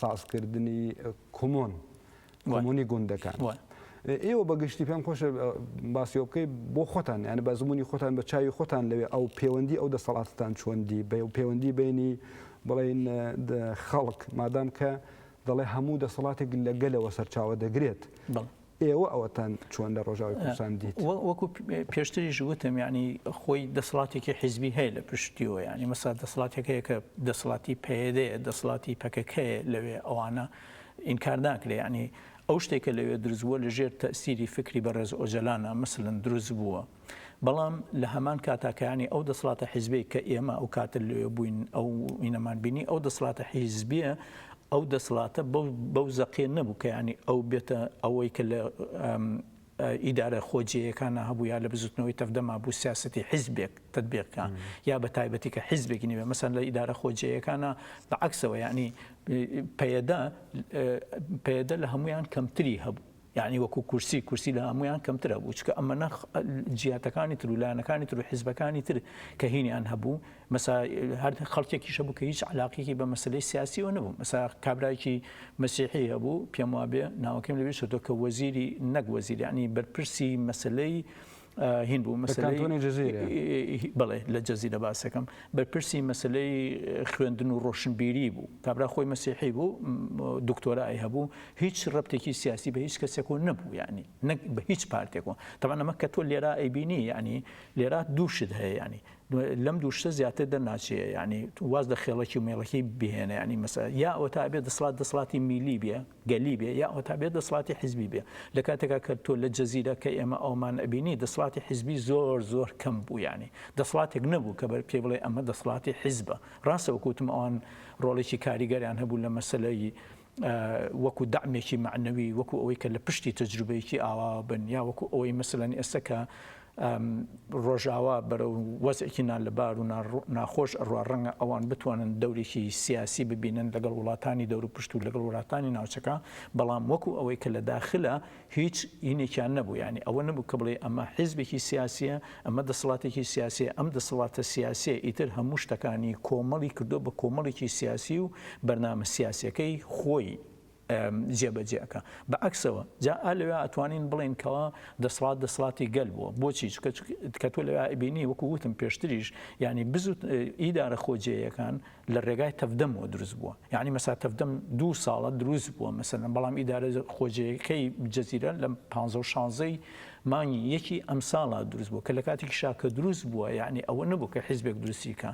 سازکردنی کۆمۆن، کۆمۆنی گوندەکان. ئێوە بە گشتی پێم خۆشە باسیەوە بکەیت بۆ خۆتان یانە بە زمموی خۆتان بە چاوی خۆتان لەوێ ئەو پەیوەندی ئەو دەسەڵاتتان چۆندی بە و پەیوەندی بینی بڵین خەڵک مادام کە دەڵێ هەموو دەسەڵاتێک لە گەلەوە سەرچاوە دەگرێت ئێوە ئەوەتان چۆن لە ڕۆژاوای کوردستان دیت؟ وەکو پێشتریش وتم یعنی خۆی دەسەڵاتێکی حیزبی هەیە لە پشتیەوە یعنی مەسا دەسەڵاتەکەیە کە دەسەڵاتی پەیەدەیە دەسەڵاتی پەکەکەیە لەوێ ئەوانە ئینکار ناکرێ یعنی ئەو شتێکە لەوێ دروست بووە لەژێر تەسیری فکری بەڕێز ئۆجەلانە مەسلەن دروست بووە. بەڵام لە هەمان کاتا کەیانی ئەو دەسڵاتە حیزبیەی کە ئێمە ئەو کاتە لەوێ بووین ئەو ئینەمان بینی ئەو دەسڵاتە حیزبیە ئەو دەسڵاتە بەو زەقیە نەبوو کەیانی ئەو بێتە ئەوەی کە لە ئیدارە خۆجێیەکانە هەبوو یا لە بزوتنەوەی تەفدەما بوو سیاستی حیزبێک تدبێکە یا بە تایبەتی کە حیزبێکی نیوێ مەسەن لە ئیدارە خۆجێیەکانە بە عکسەوە یعنی پەیەدە پەیەدە لە هەمویان کەمتری هەبوو یەعنی وەکو کورسی کورسی لە هەموویان کەمترە بوو چکە ئەمە نەخ جیاتەکانی تر و لایەنەکانی تر و حیزبەکانی تر کە هینیان هەبوو مەسا هەر خەڵکێکی شەبوو کە هیچ علاقێکی بە مەسلەی سیاسی و نەبوو مەسا کابراایکی مەسیحی هەبوو پێم وابێ ناوەکەم لەوێ شتۆ کە وەزیری نەک وەزیرانی بەرپرسی مەسلەی هین بوو مەسەلەی بڵێ لە جەزیرە باسەکەم بەرپرسی مەسلەی خوێندن و ڕۆشنبیری بوو کابرا خۆی مەسیحی بوو دکتۆرای هەبوو هیچ ڕپتێکی سیاسی بە هیچ کەسێک و نەبوو ینی نەک بە هیچ پارتێکەوە تەوان ئەمە کە تۆ لێرا ئەیبینی ینی لێرا دووشت هەیە ینی لەم دووشتە زیاتر دەرناچێ ینی واز لە خێڵەکی و مێڵەکەی بهێنە ینی مەسە یا ئەوە تا بێ دەسڵات دەسڵاتی میلی بێ گەلی بێ یا هەتا بێ دەسڵاتی حیزبی بێ لە کاتێکا کە تۆ لە جزیرە کە ئێمە ئەومان ئەبینی دەسڵاتی حیزبی زۆر زۆر کەم بوو یانی دەسڵاتێک نەبوو کە بەر پێی بڵێ ئەمە دەسڵاتی حیزبە ڕاستە وەکو وتم ئەوان ڕۆڵێکی کاریگەریان هەبوو لە مەسەلەی وەکو دامێکی معنەوی وەکو ئەوەی کە لە پشتی تەجروبەیەکی ئاوا بن یا وەکو ئەوەی مەسلەن ئێستا کە ڕۆژاوا بەرەو وەزعێکی نالەبار و ناخۆش ئەڕوا، ڕەنگە ئەوان بتوانن دەورێکی سیاسی ببینن لەگەڵ وڵاتانی دەوروپشت و لەگەڵ وڵاتانی ناوچەکە، بەڵام وەکو ئەوەی کە لە داخلە هیچ ینێکیان نەبوو، یانی ئەوە نەبوو کە بڵێی ئەمە حیزبێکی سیاسییە، ئەمە دەسەڵاتێکی سیاسییە، ئەم دەسەڵاتە سیاسییە ئیتر هەموو شتەکانی کۆمەڵی کردووە بە کۆمەڵێکی سیاسی و بەرنامە سیاسییەکەی خۆی. جێبەجێ ئەکا بە عەکسەوە جا ئا لەوێ ئەتوانین بڵێین کەوا دەسڵات دەسڵاتی گەل بووە بۆچی چکە کە تۆ لەوێ ئەبینی وەکو وتم پێشتریش یعنی بزوت ئیدارە خۆجێیەکان لە ڕێگای تەفدەمەوە دروست بووە یعنی مەسا تەفدەم دوو ساڵە دروست بووە مەسەن بەڵام ئیدارە خۆجێیەکەی جەزیرە لە 1516ی مانگی یەکی ئەم ساڵە دروست بوو کە لە کاتێکی شاکە دروست بووە یعنی ئەوە نەبوو کە حیزبێک دروستیکە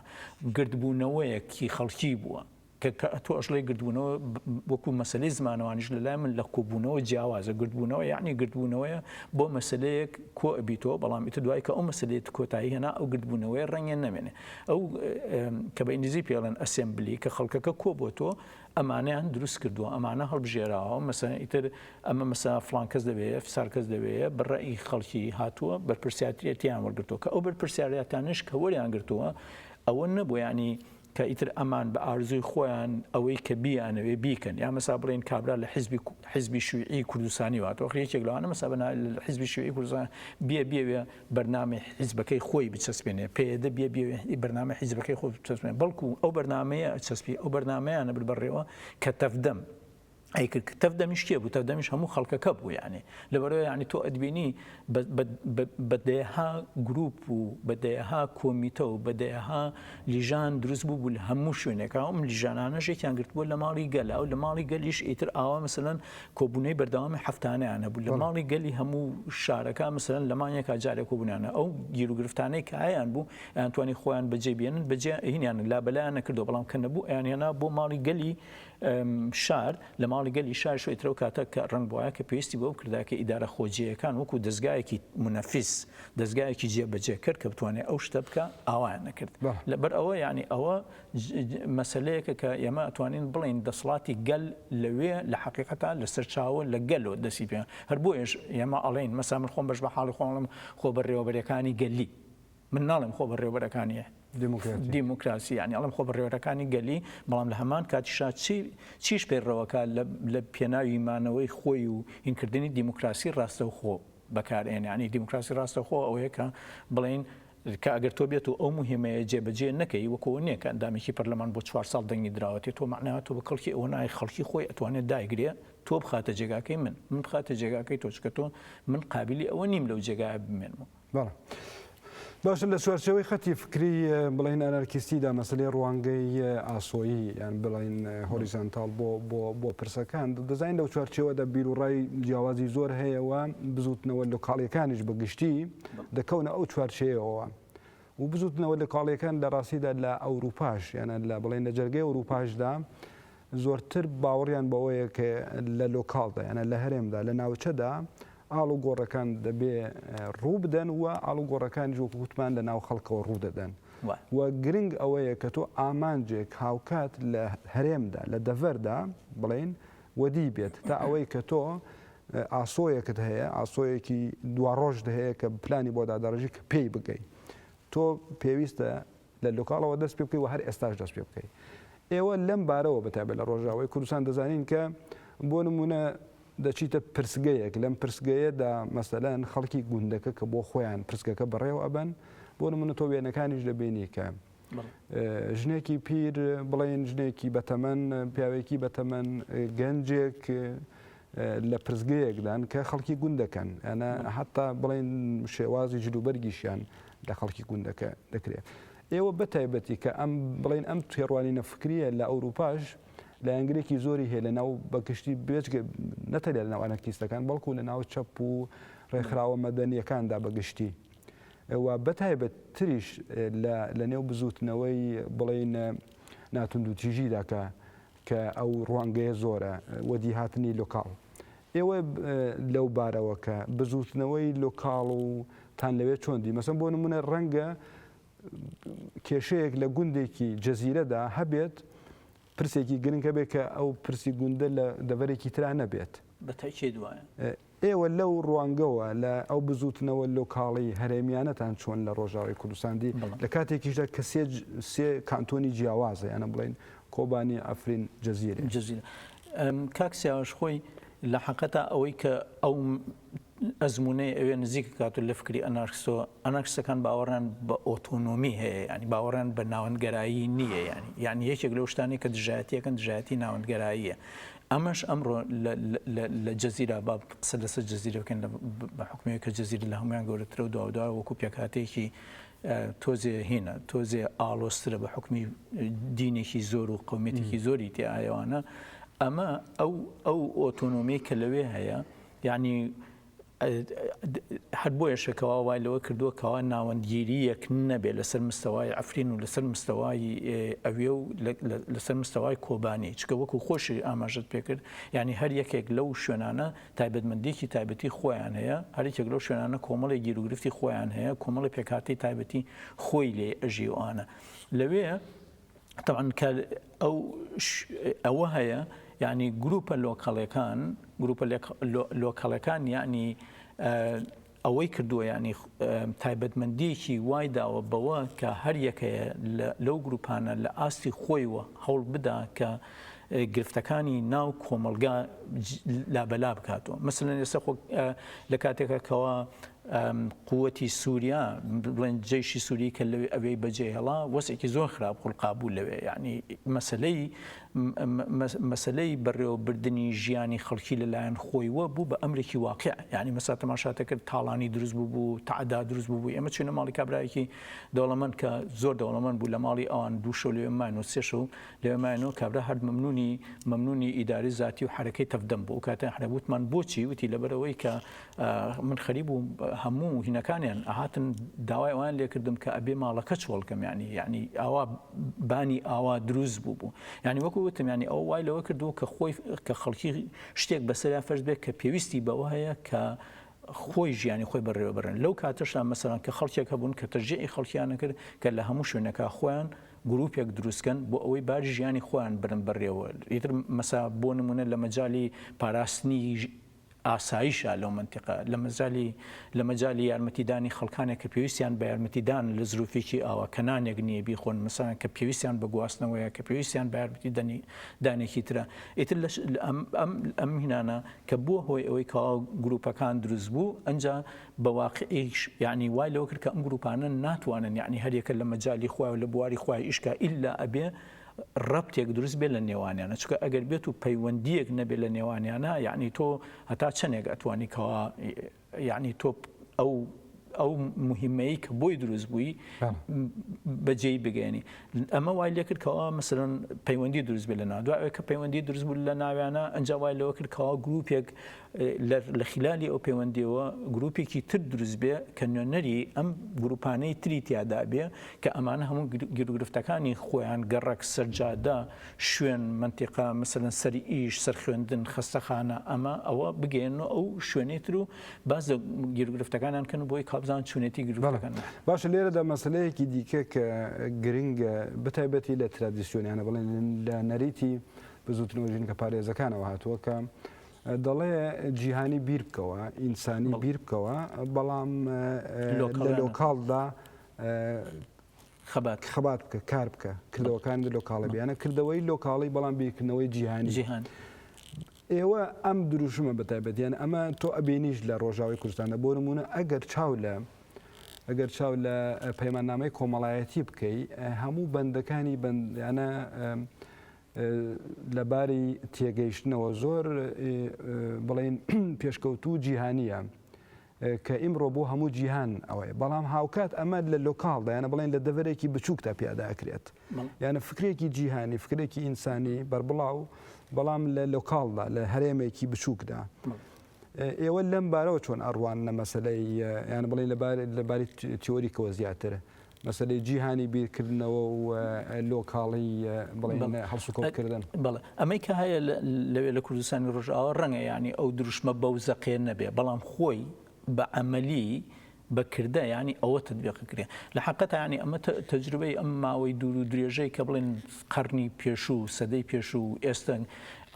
گردبوونەوەیەکی خەڵکی بووە کە کە تۆ ئەشڵێی گردبوونەوە وەکوو مەسەلەی زمانەوانیش لە لای من لە کۆبوونەوە جیاوازە، گردبوونەوە یانی گردبوونەوەیە بۆ مەسەلەیەک کۆ ئەبیتەوە بەڵام ئیتر دوای کە ئەو مەسەلەیەت کۆتایی هێنا ئەو گردبوونەوەیە ڕەنگە نەمێنێ ئەو کە بە ئینگلیزی پێی ئەڵێن ئەسێمبلی کە خەڵکەکە کۆ بۆتۆ ئەمانەیان دروست کردووە ئەمانە هەڵبژێراوە مەسەلەن ئیتر ئەمە مەسا فڵان کەس دەوێ فسار کەس دەوێ بە ڕێی خەڵکی هاتووە بەرپرسیاتیەتیان وەرگرتووە کە ئەو بەرپرسیارەتانش کە وەریان گرتووە ئەوە نەبوو یانی کە ئیتر ئەمان بە ئارزووی خۆیان ئەوەی کە بیانەوێ بیکەن یا مەسا بڵێن کابرا لە حیزبی حیزبی شویعی کوردستانی واتەوە خە یەکێک لەوانە مەسا بە حیزبی شویعی کوردستان بیە بیەوێ بەرنامەی حیزبەکەی خۆی بچەسپێنێ پێدە بیە بیەوێ ئی بەرنامە حیزبەکەی خۆی بچەسپێن بەڵکو ئەو بەرنمەیە چەسپی ئەو بەرنمەیانە بر بەڕێوە کە تەفدەم ئەیکرد کە تەڤ دەمیش کێ بوو تەڤ دەمیش هەموو خەڵکەکە بوو یانێ لەبەرەوە یعنی تۆ ئەدبینی بە دەیەها گروپ و بە دەیەها کۆمیتە و بە دەیەها لیژان دروست بوو بوو لە هەموو شوێنێکا ئەم لیژانانە ژێکیان گرت بوو لە ماڵی گەلا و لە ماڵی گەلیش ئیتر ئاوا مثلەن کۆبوونەی بەردەوامی هەفتانیان هەبوو لە ماڵی گەلی هەموو شارەکە مثلەن لەمانەکە جارێک کۆبوونانە ئەو گیر و گرفتانەی کە هەیان بوو ئەتوانی خۆیان بەجێ بێنن بەجێ هینیان لا بەلایان نەکردو بەڵام کە نەبوو ئەیان هێنا بۆ ماڵی گەلی شار، لە ماڵی گەلی شار شۆیترە و کاتەک کە ڕەنگ بوایە کە پێویستی بەوە کردایە کە ئیدارە خۆجێیەکان وەکوو دەزگایەکی مونەفیز، دەزگایەکی جێبەجێکەر کە بتوانێ ئەو شتە بکا، ئاوایان نەکرد. لە بەر ئەوە یانی ئەوە مەسەلەیەکە کە ئێمە ئەتوانین بڵێین دەسڵاتی گەل لەوێ لە حەقیقەتا لە سەرچاوە لە گەلۆ دەسی پێ هەر بۆیەش ئێمە ئەڵێین مەسەلا من خۆم بەش بە حاڵی خۆم ئەڵێم خۆ بەرێوەبەرەکانی گەلی من ناڵێم خۆ بەڕێوەبەرەکانی دیموکراتی دیموکراسی یانی ئەڵێم خۆ بەڕێوەرەکانی گەلی بەڵام لە هەمان کاتیشا چی چیش پێڕەوەکە لە لە پێناوی مانەوەی خۆی و هینکردنی دیموکراسی ڕاستەوخۆ بەکارێن یانی دیموکراسی ڕاستەخۆ ئەوەیە کە بڵین کە ئەگەر تۆ بێت و ئەو مهمەیە جێبەجێ نەکەی وەکۆ نییە کە ئەندامێکی پەرلەمان بۆ چوار ساڵ دەنگی دراوەتێ تۆ معناوە تۆ بە کەڵکی ئەوە نایە خەڵکی خۆی ئەتوانێت دایگرێ تۆ بخاتە جێگاکەی من من بخاتە جێگاکەی تۆچکە تۆ من قابلی ئەوە نیم لەو جێگایە بمێنمەوە بەڵێ باشە لە چوارچێوەی خەتی فکری بڵین ئەنارکیستیدا مەسلەی ڕوانگەی ئاسۆیی یان بڵین هۆریزانتال بۆ بۆ پرسەکان دەزانین لەو چوارچێوەدا بیر و ڕای جیاوازی زۆر هەیەەوە بزوتنەوە لە کاڵیەکانیش بەگشتی دەکەونە ئەو چوارچەیەوە. و بزوتنەوە لە کاڵیەکان لە ڕاستیدا لە ئەوروپاش یانە لە بڵێن لە جەرگی ئەوروپاشدا زۆرتر باوەڕیان بەوەیە کە لە لۆکاڵدا یانە لە هەرێمدا لە ناوچەدا ئاڵوگۆڕەکان دەبێ ڕووبدەن و ئاڵوگۆڕەکان جۆک وتمان لە ناو خەڵکەوە ڕوودەدەن و گرنگ ئەوەیە کە تۆ ئامانجێک هاوکات لە هەرێمدا لە دەڤەردا بڵین وەدی بێت تا ئەوەی کە تۆ ئاسۆیەکت هەیە ئاسۆیەکی دواڕۆژ هەیە کە پلانی بۆ دادەڕژی کە پێی بگەی تۆ پێویستە لە لوکاڵەوە دەست پێ بکەی و هەر ئێستاش دەست پێ بکەی. ئێوە لەم بارەوە بە تایبەت لە ڕۆژاوای کوردستان دەزانین کە بۆ نموونە دەچیتە پرسگەیەک لەم پرسگەیەدا مەسەلەن خەڵکی گوندەکە کە بۆ خۆیان پرسگەکە بەڕێوە ئەبەن بۆ نموونە تۆ وێنەکانیش دەبینی کە ژنێکی پیر بڵێن ژنێکی بەتەمەن پیاوێکی بەتەمەن گەنجێک لە پرسگەیەکدان کە خەڵکی گوندەکەن، ئەنا هەتا بڵێن شێوازی جلوبەرگیشیان لە خەڵکی گوندەکە دەکرێت. ئێوە بە تایبەتی کە ئەم بڵێن ئەم تێڕوانینە فکرییە لە ئەوروپاش لایەنگرێکی زۆری هەیە لە ناو بە گشتی بێجگە نەتەنیا لە ناو ئەنەرکیستەکان بەڵکوو لە ناو چەپ و ڕێکخراوە مەدەنییەکاندا بە گشتی و بە تایبەت تریش لە لە نێو بزووتنەوەی بڵێن ناتوندوتیژیدا کە کە ئەو ڕوانگەیە زۆرە وەدیهاتنی لۆکاڵ. ئێوە لەو بارەوە کە بزووتنەوەی لۆکاڵ و تان لەوێ چۆن دی؟ مەسەن بۆ نموونە ڕەنگە کێشەیەک لە گوندێکی جزیرەدا هەبێت پرسێکی گرنگ هەبێت کە ئەو پرسی گوندە لە دەڤەرێکی ترا نەبێت. بە تەئکید وایە. ئێوە لەو ڕوانگەوە لە ئەو بزووتنەوە لۆکاڵی هەرێمیانەتان چۆن لە ڕۆژاوای کوردستان دی، لە کاتێکیشدا کە سێ سێ کانتۆنی جیاوازە یانە بڵێین کۆبانی، عەفرین، جزیرە؟ جزیرە. کاک سیاوەش خۆی لە حەقەتا ئەوەی کە ئەو ئەزموونەی ئەوێ نزیک کات و لە فکری ئەنارکسۆ، ئەنارکسەکان باوەڕیان بە ئۆتۆنۆمی هەیە یانی باوەڕیان بە ناوەندگەرایی نییە یانی یانی یەکێک لەو شتانەی کە دژایەتیەکەن دژایەتی ناوەندگەراییە ئەمەش ئەمڕۆ لە جزیرە با قسە لەسەر جزیرە بکەین بە حکومی کە جزیرە لە هەموان گەورەترە و دوادا وەکو پێکاتێکی تۆزێ هێنە تۆزێ ئاڵۆسترە بە حکومی دینێکی زۆر و قومێتێکی زۆری تێ ئایوانە ئەمە ئەو ئەو ئۆتۆنۆمی کە لەوێ هەیە یعنی هەر بۆیەشە کەوا وای لەوە کردووە کەوا ناوەندگیرییەک نەبێت لەسەر مستەوای عەفرین و لەسەر مستەوای ئەوێ و لەسەر مستەوای کۆبانی چکە وەکو خۆشی ئاماژەت پێکرد یعنی هەر یەکێک لەو شوێنانە تایبەتمەندیکی تایبەتی خۆیان هەیە هەرێکێک لەو شوێنانە کۆمەڵی گیروگرفتی خۆیان هەیە کۆمەڵی پێکاتی تایبەتی خۆی لێ ئەژیوانە لەوێ تەبعەن کە ئەو ئەوە هەیە یعنی گروپە لۆکەڵەکان گروپە لۆکەڵەکان یعنی ئەوەی کردووە ینی تایبەتمەندیەکی وای داوە بەوە کە هەر یەکەیە لەو گروپانە لە ئاستی خۆیوە هەوڵ بدا کە گرفتەکانی ناو کۆمەلگا لابەلا بکاتەوە مثلەن ئێستا خۆ لە کاتێکەکەەوە قووتی سوریا بڵێن جەیشی سووری کە لەوێ ئەوێی بەجێهێڵا وەسێکی زۆر خراپ خولقابوو لەوێ یعنی مەسلەی مەسلەی بەڕێوەبردننی ژیانی خەڵکی لەلایەن خۆی وە بوو بە ئەمرێکی واقع ینی مەسا تەماشاتە کرد تاڵانی دروست بوو بوو تعدا دروست بوو ئێمە چینە ماڵی کابراایکی دەوڵەمەند کە زۆر دەوڵەمەند بوو لە ماڵی ئەوان دووشە لێ ماین و سێش و لێ ماینەوە کابرا هەر ممنونی ممنونی ئیداری زیاتی و حرەکەی تەفدەم بوو کاتە حرەبوتمان بۆچی وتی لەبەرەوەی کە من خەریب بووم هەموو هینەکانیان ئەهاتن داوای ئەوان لێکردم کە ئەبێ ماڵەکە چۆڵکەم ینی ینی ئاوا بانی ئاوا دروست بوو بوو ینی وەکو وتم ینی ئەو وای لەوە کردو کە خۆی کە خەڵکی شتێک بەسەریا فەرز بێت کە پێویستی بەوە هەیە کە خۆی ژیانی خۆی بەڕێوە بەرن لەو کاتەشدا مەسەران کە خەڵکێک هەبوون کە تەژێی خەڵکییانە کرد کە لە هەموو شوێنەکە خۆیان گروپێک دروستکەن بۆ ئەوەی بار ژیانی خۆیان برن بەڕێوە ئیتر مەسا بۆ نمونە لە مەجای پاراستنی ئاسایشە لەو مەنتیقە، لەمەجالی لەمەجالی یارمەتی دانی خەڵکانێک کە پێویستیان بە یارمەتی دانە لە زروفێکی ئاوا کە نانێک نیە بیخۆن مەسەلەن کە پێویستیان بە گواستنەوەیە کە پێویستیان بە یارمەتی دەنی دانێکی ترە ئیتر لەش ئەم ئەم ئەم هینانە کە بوە هۆی ئەوەی کەوا گروپەکان دروست بو ئەنجا بە واقعیش یانی وای لەوە کرد کە ئەم گروپانە ناتوانن یانی هەریەکە لەمەجالی خۆیان لە بواری خۆیان ئیشکا ئیلا ئەبێ رەبتێک دروست بێت لە نێوانیانە چونکە ئەگەر بێت و پەیوەندیەک نەبێت لە نێوانیانە یەعنی تۆ هەتا چەنێک ئەتوانی کەوا یەعنی تۆ ئەو ئەو مهمەی کە بۆی دروست بووی بەجێ بگەێنی ئەمە وای لێکرد کەوا مثلن پەیوەندی دروست بێت لە ناو دوای کە پەیوەندی دروست بوو لە ناویانە ئەنج وای لەوە کرد کەوا گروپێک لە خیلالی ئەو پێوەندیەوە گروپێکی تر دروست بێ کە نوێنەری ئەم گروپانەی تری تیادا بێ کە ئەمانە هەموو گیرگرفتەکانی خۆیان گەڕەک سەرجادە شوێن منتیقا مەسەلەن سەری ئیش سەر خوێندن خەستەخانە ئەمە ئەوە بگەێن و ئەو شوێنەی تر و باز لە گیرگرفتەکانیان کەن و بۆی کابزان چونێتی گرفتەکان باشە لێرەدا مەسلەیەکی دیکە کە گرنگە بەتایبەتی لە ترادیسیۆنیانە بڵێن لە نەریتی بزوتنەوە ژینکە پارێزەکانەوە هاتووە کە دەڵێ جیهانی بیر بکەوە، ئینسانی بیر بکەوە، بەڵام لە لۆکاڵدا خەبات خەبات بکە کار بکە کردەوەکان لۆکاڵی بیانە کردەوەی لۆکاڵی بەڵام بیرکردنەوەی جیهانی جیهان. ئێوە ئەم دروشمە بەتایبەتیان ئەمە تۆ ئەبینیش لە ڕۆژاوی کوردستانە بۆ نمونە ئەگەر چاو لە ئەگەر چاو لە پەیماننامەی کۆمەڵایەتی بکەی هەموو بەندەکانی بەندیانە لە باری تێگەیشتنەوە زۆر بڵێین پێشکەوتوو جیهانیە کە ئیمڕۆ بۆ هەموو جیهان ئەوەیە بەڵام هاوکات ئەمە لە لۆکاڵدا یانە بڵێن لە دەڤەرێکی بچووکدا پیاداکرێت یانە فکرێکی جیهانی فکرێکی ئینسانی بەربڵاو بەڵام لە لۆکاڵدا لە هەرێمێکی بچووکدا. ئێوە لەم بارەوە چۆن ئەڕوان نە مەسلەی یان بڵێ لەبارێت لەباری تیۆریکەوە زیاتر مەسەلەی جیهانی بیرکردنەوە و لۆکاڵی بڵێن هەڵسوکەوتکردن. بەڵێ ئەمەی کە هەیە لەوێ لە کوردستانی ڕۆژئاوا ڕەنگە یانی ئەو دروشمە بەو زەقێ نەبێ بەڵام خۆی بە عەمەلی بە کردە یانی ئەوە تەتبیق کرێ. لە حەقەتا یانی ئەمە تەجروبەی ئەم ماوەی دوور و درێژەی کە بڵێن قەڕنی پێشوو، سەدەی پێشوو و ئێستا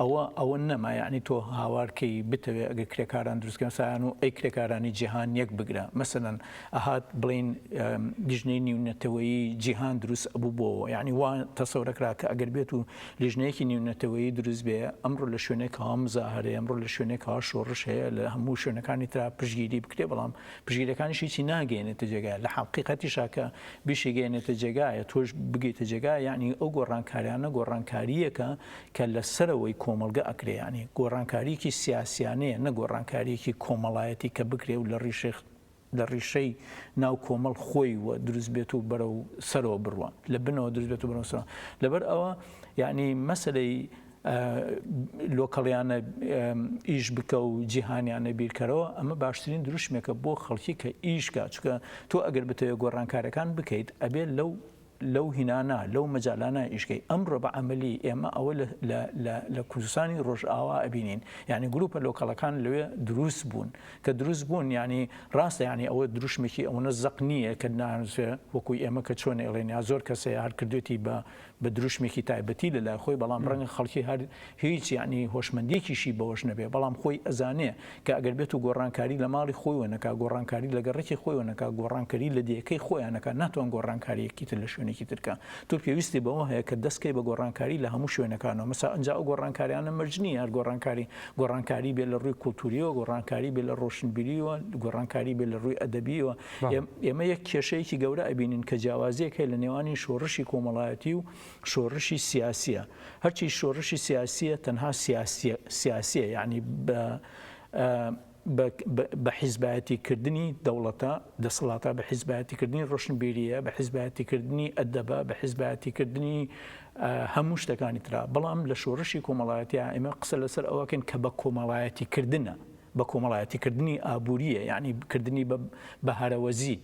ئەوە ئەوە نەما یەعنی تۆ هاوار کەی بتەوێ ئەگەر کرێکاران دروستکەن سایان و ئەی کرێکارانی جیهان یەک بگرە مەسەلەن ئەهات بڵین لیژنەی نیونەتەوەیی جیهان دروست ئەبوو بۆوە یەعنی وا تەسەورەکرا کە ئەگەر بێت و لیژنەیەکی نیونەتەوەیی دروست بێ ئەمڕۆ لە شوێنێک کەوا مزاهەرەیە ئەمڕۆ لە شوێنێک کەوا شۆڕش هەیە لە هەموو شوێنەکانی ترا پشگیری بکرێ بەڵام پشگیرەکانیش هیچی ناگەێنێتە جێگایە لە حەقیقەتیشا کە بیشی گەێنێتە جێگایە تۆش بگەیتە جێگایە یەعنی ئەو گۆڕانکاریانە گۆڕانکارییەکە کە لە سەرەوەی کۆمەڵگە ئەکرێ یانی گۆڕانکاریەکی سیاسیانەیە نە گۆڕانکاریەکی کۆمەڵایەتی کە بکرێ و لە ڕیشەی لە ڕیشەی ناو کۆمەڵ خۆی و دروست بێت و بەرەو سەرەوە بڕوا لە بنەوە دروست بێت و بەرەو سەرەوە لەبەر ئەوە یانی مەسەلەی لۆکەڵیانە ئیش بکە و جیهانیانە بیرکەرەوە ئەمە باشترین دروشمێکە بۆ خەڵکی کە ئیشکە چکە تۆ ئەگەر بتەوێت گۆڕانکارەکان بکەیت ئەبێت لەو لەو هینانە، لەو مەجالانە ئیشکەی. ئەمڕۆ بە عەمەلی ئێمە ئەوە لە کوردستانی ڕۆژئاوا ئەبینین. یانی گرووپە لۆکەڵەکان لەوێ درووست بوون. کە درووست بوون یانی ڕاستە یانی ئەوە درووشمێکی ئەوەنە زەق نییە کە نانزێ وەکووی ئێمە کە چۆن ئێڵێن یا زۆر کەسێ هەر کردوێتی بە درووشمێکی تایبەتی لە لای خۆی بەڵام ڕەنگە خەڵکی هەر هیچ یەعنی هۆشمەندیەکیشی بەوەش نەبێ بەڵام خۆی ئەزانێ کە ئەگەر بێتو گۆڕانکاری لە ماڵی خۆیوە نەکا گۆڕانکاری لە گەڕەکی خۆیوە نەکا گۆڕانکەری لە دێیەکەی خۆیان نەکا ناتوان گۆڕانکاریەکی تر لە شوێنێکی تر کا تۆ پێویستی بەوە هەیە کە دەست کەی بە گۆڕانکاری لە هەموو شوێنەکانەوە مەسا ئەنجا ئەو گۆڕانکاریانە مەرج نیە هەر گۆڕانکاری گۆڕانکاری بێ لە ڕووی کولتوریەوە گۆڕانکاری بێ لە ڕۆشنبیریەوە گۆڕانکاری بێ لە ڕووی ئەدەبیەوە ئێمە یەک کێشەیەکی گەورە ئەبینین کە جیاوازیەک هەیە لە نێوانی شۆڕشی کۆمەڵایەتی و شۆرشی سیاسیە هەرچی شۆرشی سیاسیە تەنها سیاسیە سیاسیە یعنی بە بە حیزبایەتی کردنی دەوڵەتە دەسەڵاتە بە حیزبایەتی کردنی ڕۆشنبیریە بە حیزبایەتی کردنی ئەدەبە بە حیزبایەتی کردنی هەموو شتەکانی تررا بەڵام لە شۆرشی کۆمەڵایەتی ئێمە قسە لەسەر ئەوەکەن کە بە کۆمەڵایەتی کردنە بە کۆمەڵایەتی کردنی ئابوورییە یانی کردنی بە بە هەرەوەزی،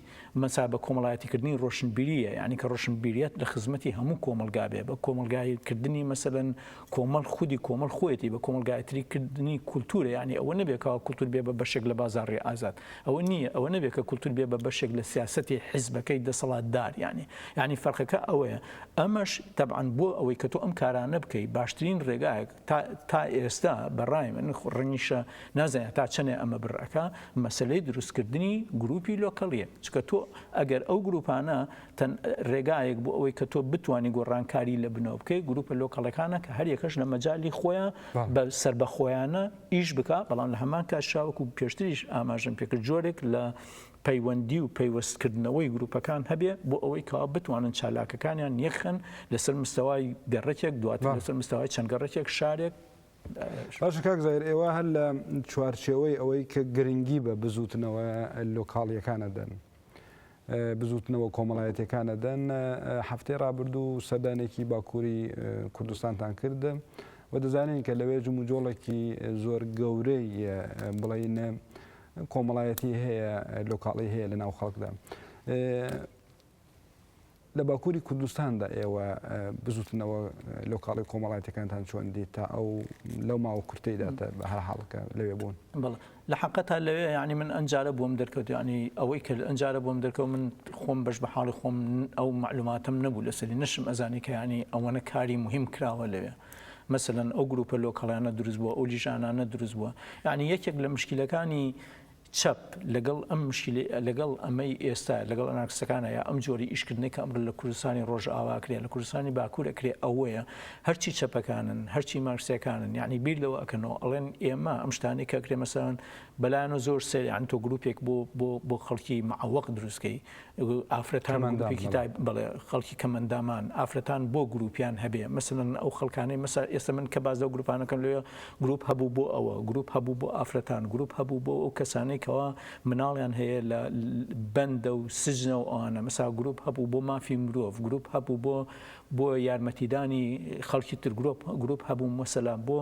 مەسا بە کۆمەڵایەتی کردنی ڕۆشنبیرییە یانی کە ڕۆشنبیریەت لە خزمەتی هەموو کۆمەڵگا بێ بە کۆمەڵگایی کردنی مەسەلەن کۆمەڵ خودی کۆمەڵ خۆیەتی بە کۆمەڵگایەتری کردنی کولتوورە یانی ئەوە نەبێ کەوا کولتوور بێ بە بەشێک لە بازاڕی ئازاد ئەوە نییە ئەوە نەبێ کە کولتوور بێ بە بەشێک لە سیاسەتی حیزبەکەی دەسەڵاتدار یانی یانی فەرقەکە ئەوەیە ئەمەش تەبعەن بۆ ئەوەی کە تۆ ئەم کارانە بکەی باشترین ڕێگایەک تا تا ئێستا بە ڕای من ڕەنگیشە نازانم هەتا چەنێ ئەمە بڕ ئەکا مەسەلەی دروستکردنی گرووپی لۆکەڵیە چکە تۆ ئەگەر ئەو گرووپانە تەن ڕێگایەک بۆ ئەوەی کە تۆ بتانی گۆڕانکاری لە بنەوە بکەی گرووپە لۆکەڵەکانە کە هەریەکەش لە مەجای خۆیان بە سەر بە خۆیانە ئیش بک بەڵام لە هەمان کاشاوەکو پێشتریش ئاماژم پێکرد جۆرێک لە پەیوەندی و پەیوەست کردنەوەی گروپەکان هەبێ بۆ ئەوەی کەوا بتوانن چالاکەکانیان یەکخەن لەسەر مستەوای گەڕەکێک دواتر لەسەر مستەوای چەند گەڕەکێک شارێک باشە کاک زایر ئێوە هەر لە چوارچێوەی ئەوەی کە گرنگی بە بزوتنەوە لۆکاڵیەکانە دەن بزوتنەوە کۆمەڵایەتەکانە دەن هەفتەی ڕابردوو سەدانێکی باکووری کوردستانتان کردە و دەزانین کە لەوێ جموجۆڵێکی زۆر گەورەی بڵێینە کۆمەڵایەتی هەیە لۆکاڵی هەیە لە ناو خەڵکدا لە باکووری کوردستاندا ئێوە بزوتنەوە لۆکاڵی کۆمەڵاتەکانتان چۆن دیت تا ئەو لەو ماوە کورتەیدا بە هەر حاڵکە لەوێ بوون لە حقەتا لەوێ ینی من ئەنجارە بووم دەرکەوت ینی ئەوەی کرد ئەنجارە بووم دەرکەوت من خۆم بەش بە حاڵی خۆم ئەو معلوماتم نەبوو لەسەری نشم ئەزانی کە ینی ئەوەنە کاری مهم کراوە لەوێ مەسەلەن ئەو گروپە لۆکەڵیانە دروست بووە ئەو لیژانانە دروست بووە یانی یەکێک لە مشکیلەکانی چەپ لەگەڵ ئەم مشکلی لەگەڵ ئەمەی ئێستا لەگەڵ ئەنارکسەکانە یا ئەم جۆری ئیشکردنی کە ئەمر لە کوردستانی ڕۆژ ئاوا کرێ لە کوردستانی باکوورە کرێ ئەوەیە هەرچی چەپەکانن هەرچی مارکسیەکانن یعنی بیر لەوە ئەکەنەوە ئەڵێن ئێمە ئەم شتانی کە کرێ مەسەن بەلایەن و زۆر سەریان تۆ گروپێک بۆ بۆ بۆ خەڵکی معوەق دروستکەی ئافرەتان و گروپێکی تایب، کەمەندان، بەڵێ. بەڵێ خەڵکی کەمەندامان، ئافرەتان بۆ گروپیان هەبێ، مەسەلەن ئەو خەڵکانەی مەسە ئێستا من کە باس لەو گروپانە ئەکەم لەوێ گروپ هەبوو بۆ ئەوە، گروپ هەبوو بۆ ئافرەتان، گروپ هەبوو بۆ ئەو کەسانەی کەوا مناڵیان هەیە لە بەندە و سجنە و ئەوانە، مەسەلا گروپ هەبوو بۆ مافی مرۆڤ، گروپ هەبوو بۆ بۆ یارمەتیدانی خەڵکی تر، گروپ گروپ هەبوو مەسەلا بۆ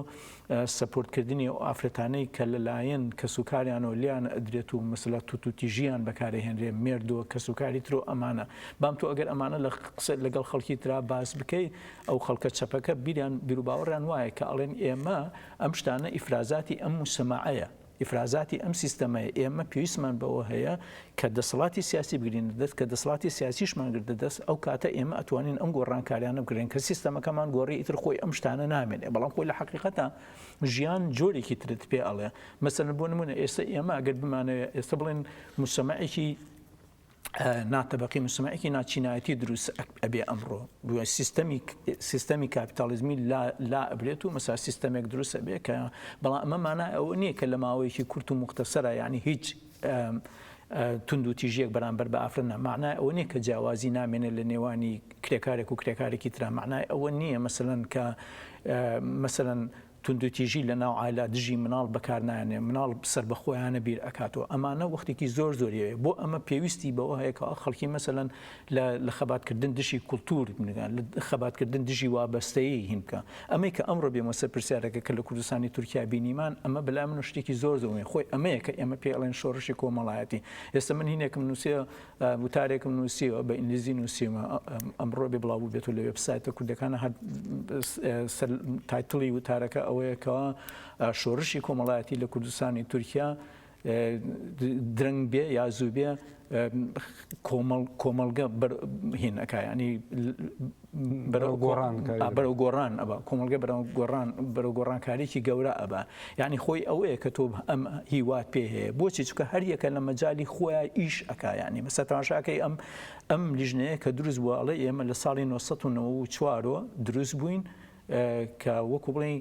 سەپۆرت کردنی ئەو ئافرەتانەی کە لە لایەن کەس و کاریانەوە لێیان ئەدرێت و مەسەلا توت و تیژیان بەکار ئەهێنرێ مێردۆ کەس و کاری ترۆ ئەمانە بام تۆ ئەگەر ئەمانە لە قسە لەگەڵ خەڵکی ترا باس بکەی ئەو خەڵکە چەپەکە بیریان بیروباوەڕیان وایە کە ئەڵێن ئێمە ئەم شتانە ئیفرازاتی ئەم موسەماعەیە ئیفرازاتی ئەم سیستەمەیە، ئێمە پێویستمان بەوە هەیە کە دەسەڵاتی سیاسی بگرینە دەست، کە دەسەڵاتی سیاسیشمان گرتە دەست، ئەو کاتە ئێمە ئەتوانین ئەم گۆڕانکاریانە بکرێن، کە سیستەمەکەمان گۆڕی ئیتر خۆی ئەم شتانە نامێنێ، بەڵام خۆی لە حەقیقەتا ژیان جۆرێکی ترت پێ ئەڵێ، مەسەلەن بۆ نموونە ئێستا ئێمە ئەگەر بمانەوێ ئێستا بڵێن موچەمەعێکی، نا تەبەقەی موجتەمەعێکی نا چینایەتی دروست ئەبێ ئەمڕۆ بووە سیستەمی سیستەمی کاپیتالیزمی لا لا ئەبرێت و مەسا سیستەمێک دروست ئەبێ کە بەڵام ئەمە مانا ئەوە نییە کە لە ماوەیەکی کورت و مختەسەرە یعنی هیچ تونند و تیژیەک بەرامبەر بە ئافرەنە معنای ئەوە نییە کە جیاوازی نامێنێ لە نێوانی کرێکارێک و کرێکارێکی ترا معنای ئەوە نییە مەسەن کە مەسەن توندوتیژی لە ناو عایلە دژی مناڵ بەکار نایەنێ مناڵ سەربەخۆیانە بیر ئەکاتەوە ئەمانە وەختێکی زۆر زۆری ئەوێ بۆ ئەمە پێویستی بەوە هەیە کە خەڵکی مەسەلەن لە لە خەبات کردن دژی کولتور خەبات کردن دژی وابەستەیی هین بکە ئەمەی کە ئەمڕۆ بێمە سەر پرسیارەکە کە لە کوردستانی تورکیا بینیمان ئەمە بەلای من شتێکی زۆر زۆر خۆی ئەمەیە کە ئێمە پێڵێن شۆڕشی کۆمەڵایەتی ئێستا من هینێکم نووسێ وتارێکم نووسیوە بە ئینگلیزی نووسیمە ئەمڕۆ بێ بڵاو بێت و لە وێبسایتە کوردەکانە هەر تایتڵی وتارەکە ئەوەیەکەوە شۆڕشی کۆمەڵایەتی لە کوردستانی تورکیا درەنگ بێ یا زوو بێ کۆمەڵگە هینەکە ینی بەرەو گۆڕان بەرەو گۆڕان ئەبا کۆمەلگە بەرەو گۆڕان بەرەو گۆڕانکاریی گەورە ئەبا یعنی خۆی ئەوەیە کە تۆ ئەم هیوات پێ هەیە بۆچی چکە هەریەکە لە مەجای خۆیان ئیش ئەکایانی مەسە تاشاکەی ئەم ئەم لیژنەیە کە دروست بووە ئەڵێ ئێمە لە ساڵی 1994ەوە دروست بووین کە وەکو بڵین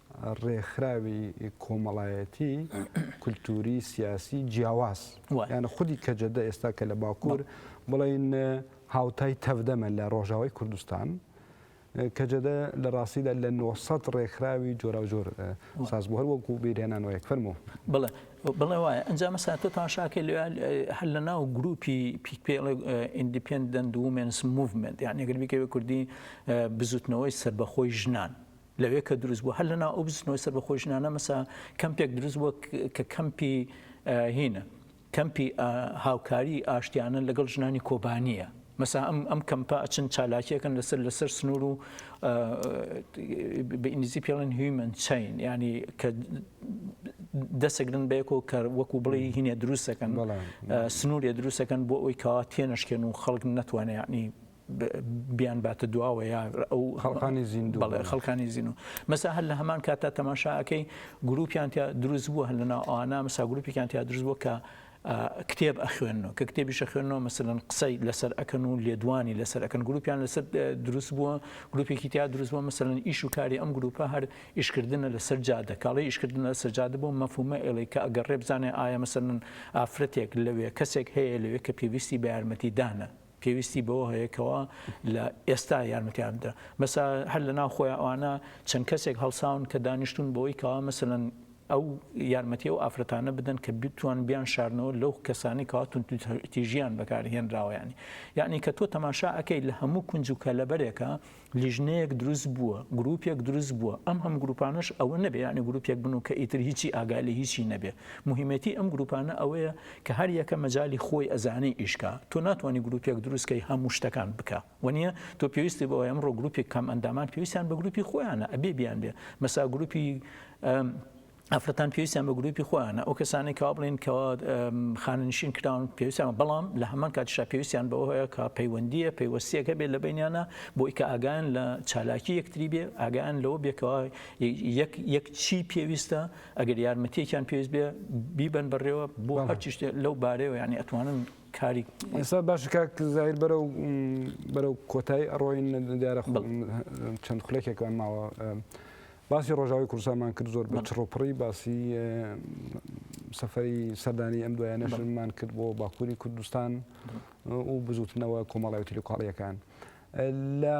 ڕێکخراوی کۆمەڵایەتی، کولتووری، سیاسی جیاواز، یان خودی کەجەدە ئێستا کە لە باکوور بڵێین هاوتای تەڤدەمە لە ڕۆژاوای کوردستان، کەجەدە لە ڕاستیدا لە نۆ سەد ڕێکخراوی جۆراوجۆر ساز بوو، هەر وەکوو بێریانان وایەک. فەرموو. بەڵێ، بەڵێ وایە. ئەنجا مەسەلەن تۆ تەماشا کە لێ هەر لە ناو گرووپی پیک پێ ئەڵێ ئیندیپێندەنت وومێنس موڤمێنت، یانی ئەگەر بیکەی بە کوردی بزووتنەوەی سەربەخۆی ژنان، لەوێ کە دروست بوو هەر لە ناو ئەو بزنەوەی سەربەخۆی ژنانە مەسە کەمپێک دروست بووە کە کەمپی هینە کەمپی هاوکاری ئاشتیانە لەگەڵ ژنانی کۆبانیە مەسا ئەم ئەم کەمپە ئەچن چالاکیەکەن لەسەر لەسەر سنوور و بە ئینگلیزی پێڵن هیومن چین ینی کە دەسەگرن بەیەکۆ کە وەکو بڵێ هینە دروستەکەن سنوورێ دروستەکەن بۆ ئەوی کەوا تێنشکێن و خەڵک نەتوانێ ینی بیان باتە دواوە یا ئەو خەڵکانی زیندوو بەڵێ خەڵکانی زین و مەسا هەر لە هەمان کاتا تەماشاکەی گروپیان تیا دروست بووە هەر لەنا ئانا مسا گروپیان تیا دروست بووە کە کتێب ئەخوێنەوە کە کتێبیشە خوێنەوە مەسەن قسەی لەسەر ئەەکەن و لێدوانی لەسەر ئەەکەن گروپیان لەسەر دروست بووە گروپێکی تیا دروست بووە مەسەن ئیش و کاری ئەم گروپە هەر ئیشکردنە لەسەر جادە کاڵی ئیشکردن لە سەرجادە بۆ مەفومە ئێڵی کە ئەگەر ڕێبزانێ ئایا مەسەن ئافرەتێک لەوێ کەسێک هەیە لەوێ کە پێویستی بە یارمەتی دانە پێویستی بەوە هەیە کەوا لە ئێستا یارمەتیان بدە مەسا هەر لە ناو خۆیان ئەوانە چەند کەسێک هەڵساون کە دانیشتون بەوەی کەوا مەسەلەن ئەو یارمەتی ئەو ئافرەتانە بدەن کە بتوان بیان شارنەوە لەو کەسانی کەوا توندوتیژیان بەکارهێنراوە یانی یانی کە تۆ تەماشا ئەکەی لە هەموو کونج و کەلەبەرێکە لیژنەیەک دروست بووە، گروپێک دروست بووە، ئەم هەموو گروپانەش ئەوە نەبێ یانی گروپێک بن و کە ئیتر هیچی ئاگای لە هیچی نەبێ، موهیمەتی ئەم گروپانە ئەوەیە کە هەر یەکە مەجالی خۆی ئەزانێ ئیش کا، تۆ ناتوانی گروپێک دروست کەی هەموو شتەکان بکا وەنیە، تۆ پێویستی بەوە ئەمڕۆ گروپی کامئەندامان پێویستیان بە گروپی خۆیانە ئەبێ بیانبێ مەسا گروپی. ئافرەتان پێویستیان بە گروپی خۆیانە ئەو کەسانی کاوا بڵین کەوا خاننشین کراون پێویستیان بەڵام لە هەمان کاتشا پێویستیان بەوە هەیە کە پەیوەندیە پەیوەستیەکە بێت لە بینیانە بۆی کە ئاگان لە چالاکی یەکتری بێ ئاگان لەوە بێکەوە یەک چی پێویستە ئەگەر یارمەتیەکیان پێویست بێ بیبن بەڕێوە بۆ هەرچی لەو بارەوە ینی ئەتوانن کاری ئێستا باش کاک زایر بەرە و بەرە و کۆتایی ئەڕۆین دیارە چەند خولێکێکمان ماوە. باسی ڕۆژاوای کوردستانمان کرد زۆر بە چڕوپڕی باسی سەفەری سەردانی ئەم دوایانەشمان کرد بۆ باکووری کوردستان و بزوتنەوە کۆمەڵای و تلیقاڵیەکان لە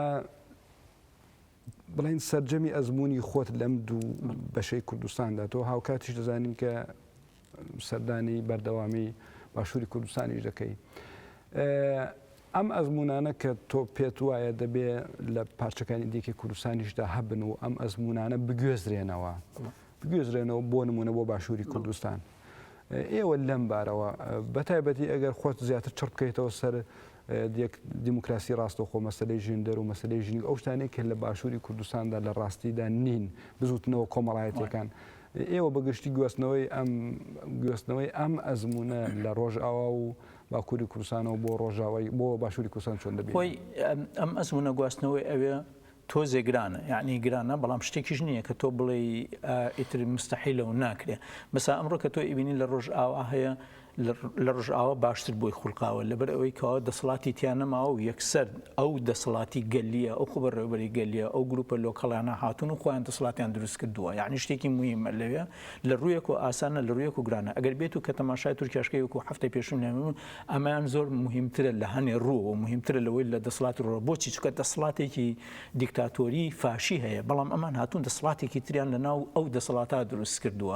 بڵین سەررجەمی ئەزمموی خۆت لەم دوو بەشەی کوردستاندا تۆ هاوکاتیش دەزانین کە سەردانی بەردەوامی باشووری کوردستانیش دەکەی. ئەم ئەزموونانە کە تۆ پێت وایە دەبێ لە پارچەکانی دیکەی کوردستانیشدا هەبن و ئەم ئەزموونانە بگوێزرێنەوە بگوێزرێنەوە بۆ نمونە بۆ باشووری کوردستان. ئێوە لەم بارەوە بەتایبەتی ئەگەر خۆت زیاتر چڕ بکەیتەوە سەر دیموکراسی ڕاستەخۆ مەسلەی ژێندەر و مەسلەی ژنی ئەو شتانێک کە لە باشووری کوردستاندا لە ڕاستیدا نین بزوتنەوە کۆمەڵایەتەکان. ئێوە بە گشتی گوێستنەوەی ئەم گوێستنەوەی ئەم ئەزموونە لە ڕۆژئاوا و باکووری کوردستانەوە بۆ ڕۆژاوای بۆ باشووری کوردستان چۆن دەبینن؟ خۆی ئەم ئەزموونە گواستنەوەی ئەوێ تۆزێ گرانە یعنی گرانە بەڵام شتێکیش نییە کە تۆ بڵێی ئیتر مستەحیلە و ناکرێ بەسا ئەمڕۆ کە تۆ ئیبینی لە ڕۆژئاوا هەیە لە ڕژئاوا باشتر بۆی خوڵقاوە لەبەر ئەوەی کەوا دەسڵاتی تیا نەماوە و یەکسەر ئەو دەسڵاتی گەلیە ئەو خۆبەڕێوەبەری گەلیە ئەو گروپە لۆکەڵانە هاتوون و خۆیان دەسڵاتیان دروست کردووە یانی شتێکی مویمە لەوێ لە ڕوویەک و ئاسانە لە ڕوویەک و گرانە ئەگەر بێت و کە تەماشای تورکیاشکەی وەکو هەفتەی پێشوو نەمون ئەمەیان زۆر مهمترە لە هەنێ ڕووەوە مهمترە لەوەی لە دەسڵاتی ڕۆ بۆچی چکە دەسڵاتێکی دیکتاتۆری فاشی هەیە بەڵام ئەمان هاتوون دەسڵاتێکی تریان لە ناو ئەو دەسەڵاتا دروست کردووە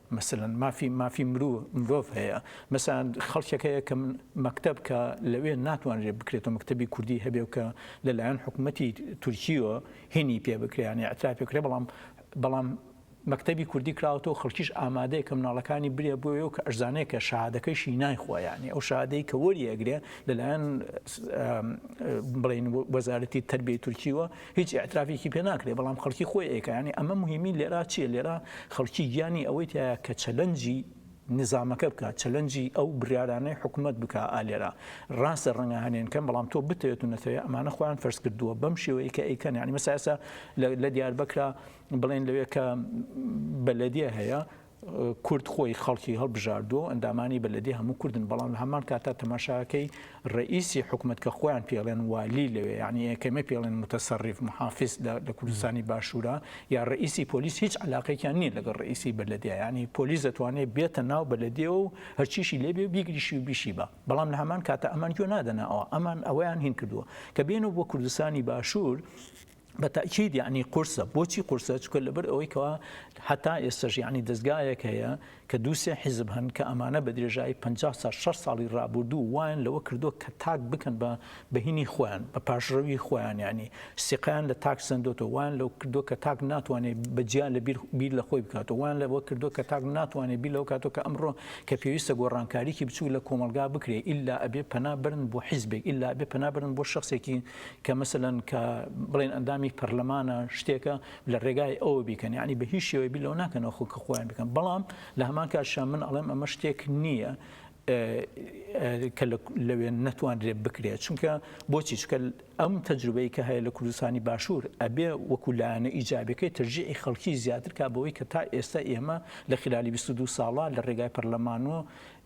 مەسەلەن مافی مافی مرو مرۆڤ هەیە مەسەلەن خەڵکێک هەیە کە مەکتەب کە لەوێ ناتوانرێ بکرێتەوە مەکتەبی کوردی هەبێ و کە لە لایەن حکوومەتی تورکییەوە هینی پێ بکرێ یانێ ئەتراف پێ بکرێ بەڵام بەڵام مەکتەبی کوردی کراوەتەوە خەڵکیش ئامادەیە کە مناڵەکانی برێ بۆیە و کە ئەشزانەیە کە شادەکەشی نایخوا یانێ ئەو شادەی کە وەریەگرێ لەلایەن بڵین وەزارەتی تربیەی تورکییەوە هیچ ئیعترافێکی پێ ناکرێ بەڵام خەڵکی خۆی ئەیکا یانی ئەمە مهمی لێرا چیە لێرا خەڵکی گیانی ئەوەی تایە کە چەلەنجی نظامەکە بکات چەلەنجی ئەو بریارانەی حکومت بک ئالێرا ڕاستە ڕەنگە هەنێن کەم بەڵام تۆ بتێت و نەتەوەی ئەمانە خۆیان فەرز کردووە بەم شێوەیە کە ئەیکەن ینی مەساسە لە دیار بکرا بڵێن لەوێ کە بەلەدیە هەیە کورد خۆی خەڵکی هەڵبژاردووە و ئەندامانی بەلەدێ هەموو کوردن بەڵام لە هەمان کاتا تەماشاکەی ڕەئیسی حکومەت کە خۆیان پێڵێن والی لەوێ یانی ئێکەمە پێڵێن متەسەڕیف محافیز لە کوردستانی باشوورە یا ڕەئیسی پۆلیس هیچ علاقێکیان نییە لەگەڵ ڕەئیسی بەلەدێ یانی پۆلیس دەتوانێت بێتە ناو بەلەدێ و هەرچیشی لێبێ و بیگریشی و بیشی بە بەڵام لە هەمان کاتا ئەمان گوێ نادەنە ئەوە ئەمان ئەوەیان هین کردووە کە بێنەوە بۆ کوردستانی باشوور بە تەئکید یەعنی قورسە بۆچی قورسە چکە لەبەر ئەوەی کەوا هەتا ئێستەش یەعنی دەزگایەک هەیە کە دوو سێ حیزب هەن کە ئەمانە بە درێژایی پ سا شەش ساڵی ڕابوردوو وایان لەوە کردووە کە تاک بکەن بە بەهینی خۆیان بە پاشڕەوی خۆیان یەعنی سیقەیان لە تاک سەندۆتۆ وایان لەو کردووە کە تاک ناتوانێت بە جیا لە بیر بیر لە خۆی بکاتەوە وایان لەوە کردووە کە تاک ناتوانێت بیر لەو کاتۆ کە ئەمڕۆ کە پێویستە گۆڕانکاریکی بچوو لە کۆمەڵگا بکرێ ئیلا ئەبێ پەنا برن بۆ حیزبێک ئیلا ئەبێ پەنا برن بۆ شەخسێکی کە مەسەلەن کە بڵێن ئەندامی پەرلەمانە شتێکە لە ڕێگای ئەوە بیکەن یعنی بە هیچ شێوەی بیر لەوە ناکەنەوە خۆ کە خۆیان بکەن بەڵام لە هەمان کاتشا من ئەڵێم ئەمە شتێک نییە کە لەوێ نەتوانرێت بکرێت چونکە بۆچی چکە ئەم تەجروبەی کە هەیە لە کوردستانی باشوور ئەبێ وەکو لایەنە ئیجابەکەی ترجیعی خەڵکی زیاتر کا بەوەی کە تا ئێستا ئێمە لە خلالی 22 ساڵە لە ڕێگای پەرلەمانەوە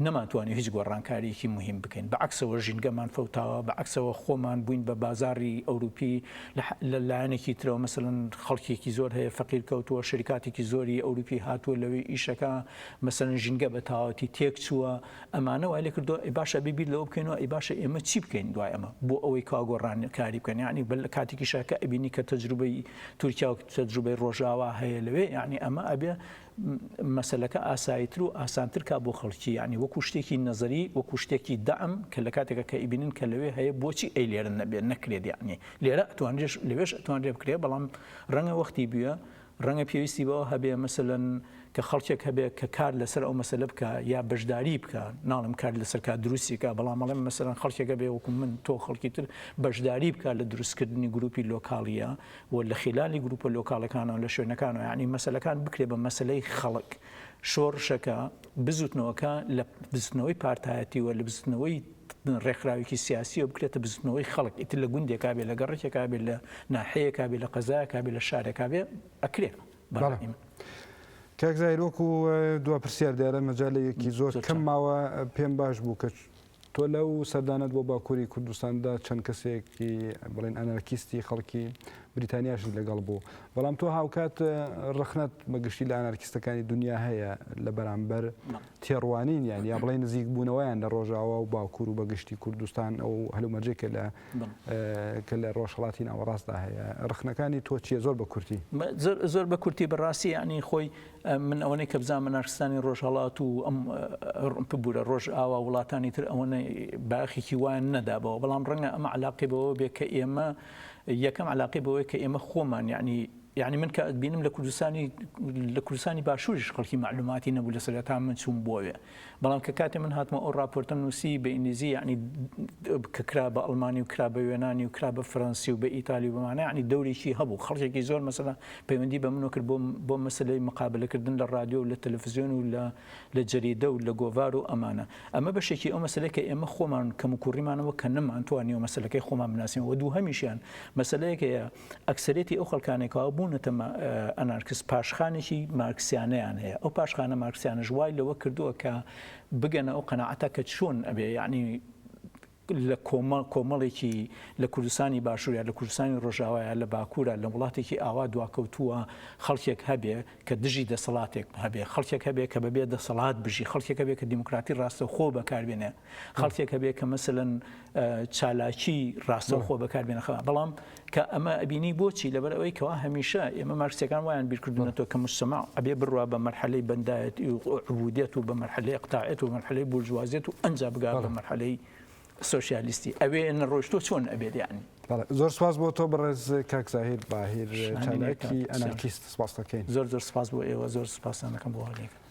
نەمانتوانی هیچ گۆڕانکارییەکی موهیم بکەین، بە عەکسەوە ژینگەمان فەوتاوە، بە عەکسەوە خۆمان بووین بە بازاڕی ئەوروپی، لە لایەنێکی ترەوە مەسەلەن خەڵکێکی زۆر هەیە فەقیر کەوتووە، شەریکاتێکی زۆری ئەوروپی هاتووە لەوێ ئیش ئەکا، مەسەلەن ژینگە بە تەواوەتی تێکچووە، ئەمانە وای لێکردووە ئەی باشە ئەبێ بیر لەوە بکەینەوە ئەی باشە ئێمە چی بکەین دوای ئەمە بۆ ئەوەی کەوا گۆڕانکاری بکەن، یەعنی بە لە کاتێکیشا کە ئەبینی کە تەجروبەی تورکیا و تەجروبەی ڕۆژاوا هەیە لەوێ، یەعنی ئەمە ئەبێ مەسەلەکە ئاساییتر و ئاسانتر کا بۆ خەڵکی، یەعنی وەکو شتێکی نەزەری، وەکو شتێکی دەعم کە لە کاتێکا کە ئەیبینن کە لەوێ هەیە بۆچی ئەیلێرە نەبێ نەکرێت یەعنی لێرە ئەتوانرێش لەوێش ئەتوانرێ بکرێ بەڵام ڕەنگە وەختی بویە ڕەنگە پێویستی بەوە هەبێ مەسەلەن کە خەڵکێک هەبێ کە کار لەسەر ئەو مەسەلە بکا یا بەشداری بکا ناڵم کار لەسەر کا دروستیکە بەڵام ئەڵێم مەسەلەن خەڵکێکە بێ وەکو من تۆ خەڵکی تر بەشداری بکا لە دروستکردنی گروپی لۆکاڵیە و لە خیلالی گروپە لۆکاڵەکانەوە لە شوێنەکانەوە یانی مەسەلەکان بکرێ بە مەسەلەی خەڵک شۆڕشەکە بزوتنەوەکە لە بزوتنەوەی پارتایەتی و لە بزوتنەوەی ڕێکخراوێکی سیاسی و بکرێتە بزوتنەوەی خەڵک ئیتر لە گوندێکا بێ لە گەڕێکێکا بێ لە ناحەیەکا بێ لە قەزایەکا بێ لە شارێکا بێ ئەکرێ بەڕای من. کاک زاهیر وەکو دوا پرسیار دیارە مەجالێکی زۆر کەم ماوە پێم باش بوو کە تۆ لەو سەردانەت بۆ باکووری کوردستاندا چەند کەسێکی بڵێن ئەنارکیستی خەڵکی بریتانیاشت لەگەڵ بوو، بەڵام تۆ هاوکات ڕەخنەت بە گشتی لە ئەنارکیستەکانی دونیا هەیە لە بەرامبەر تێڕوانینیان یا بڵێ نزیکبوونەوەیان لە ڕۆژاوا و باکوور و بە گشتی کوردستان ئەو هەلومەرجێک کە لە کە لە ڕۆژهەڵاتی ناوەڕاستدا هەیە، ڕەخنەکانی تۆ چییە زۆر بە کورتی؟ زۆر بە کورتی بە ڕاستی یانی خۆی من ئەوەنەی کە بزانم منارستانی ڕۆژهەڵات و ئەم ببوورە ڕۆژئاوا وڵاتانی تر ئەوەنە باخێکی وایان نەدابەوە بەڵام ڕەنگە ئەمە علاقی بەوە بێ کە ئێمە یەکەم علاقی بەوەی کە ئێمە خۆمان یعنی یعنی من کە بینم لە کوردستانی لە کوردستانی باشووریش خەڵکی معلوماتی نەبوو لە سەرەتا من چووم بۆوێ بەڵام کە کاتێ من هاتمەوە ئەو ڕاپۆرتەم نووسی بە ئینگلیزی یەعنی کە کرا بە ئەڵمانی و کرا بە یۆنانی و کرا بە فەرەنسی و بە ئیتالی و بەمانە یەعنی دەورێکی هەبوو خەڵکێکی زۆر مەسەلەن پەیوەندی بە منەوە کرد بۆ مەسەلەی مقابەلەکردن لە ڕادیۆ و لە تەلەفزیۆن و لە لە جەریدە و لە گۆڤار و ئەمانە ئەمە بەشێکی ئەو مەسەلەی کە ئێمە خۆمان کەموکوڕیمانەوە کە نەمانتوانیەوە مەسەلەکەی خۆمان بناسین و دووهەمیشیان مەسەلەیەک هەیە ئەکسەریەتی ئەو خەڵکانەی کەوا بوونەتە ئەنارکس پاشخانێکی مارکسیانەیان هەیە ئەو پاشخانە مارکسیانەش وای لەوە کردووە کە بگەنە ئەو قەنەعەتە کە چۆن ئەبێ یعنی لە کۆمە کۆمەڵێکی لە کوردستانی باشوورە لە کوردستانی ڕۆژاوایە لە باکوورە لە وڵاتێکی ئاوا دواکەوتووە خەڵکێک هەبێ کە دژی دەسەڵاتێک هەبێ خەڵکێک هەبێ کە بەبێ دەسەڵات بژی خەڵکێک هەبێ کە دیموکراتی ڕاستەخۆ بەکاربێنێ خەڵکێک هەبێ کە مەسەلەن چالاکی ڕاستەوخۆ بەکار بێنەخەوە بەڵام کە ئەمە ئەبینی بۆچی لەبەر ئەوەی کەوا هەمیشە ئێمە مارکسەکان وایان بیرکردونەوە کە مستەما ئەبێ بڕوا بە مەرحەلەی بەندایەت عبودێت و بە مەرحەلەی قتاعێت و مەرحەلەی بورجوازێت و ئەنج بگات بە مەرحەلەی سوسیالیستی ئەوێ نەڕۆشتۆ چۆن ئەبێت یان زۆر سپاس بۆ تۆ بەڕێز کاکزاهیر باهیر چالاکی ئەنارکیست سپاس دەکەین زۆر زۆر سپاس بۆ ئێوە زۆر سپاسانەکەم بۆ هەڵێکن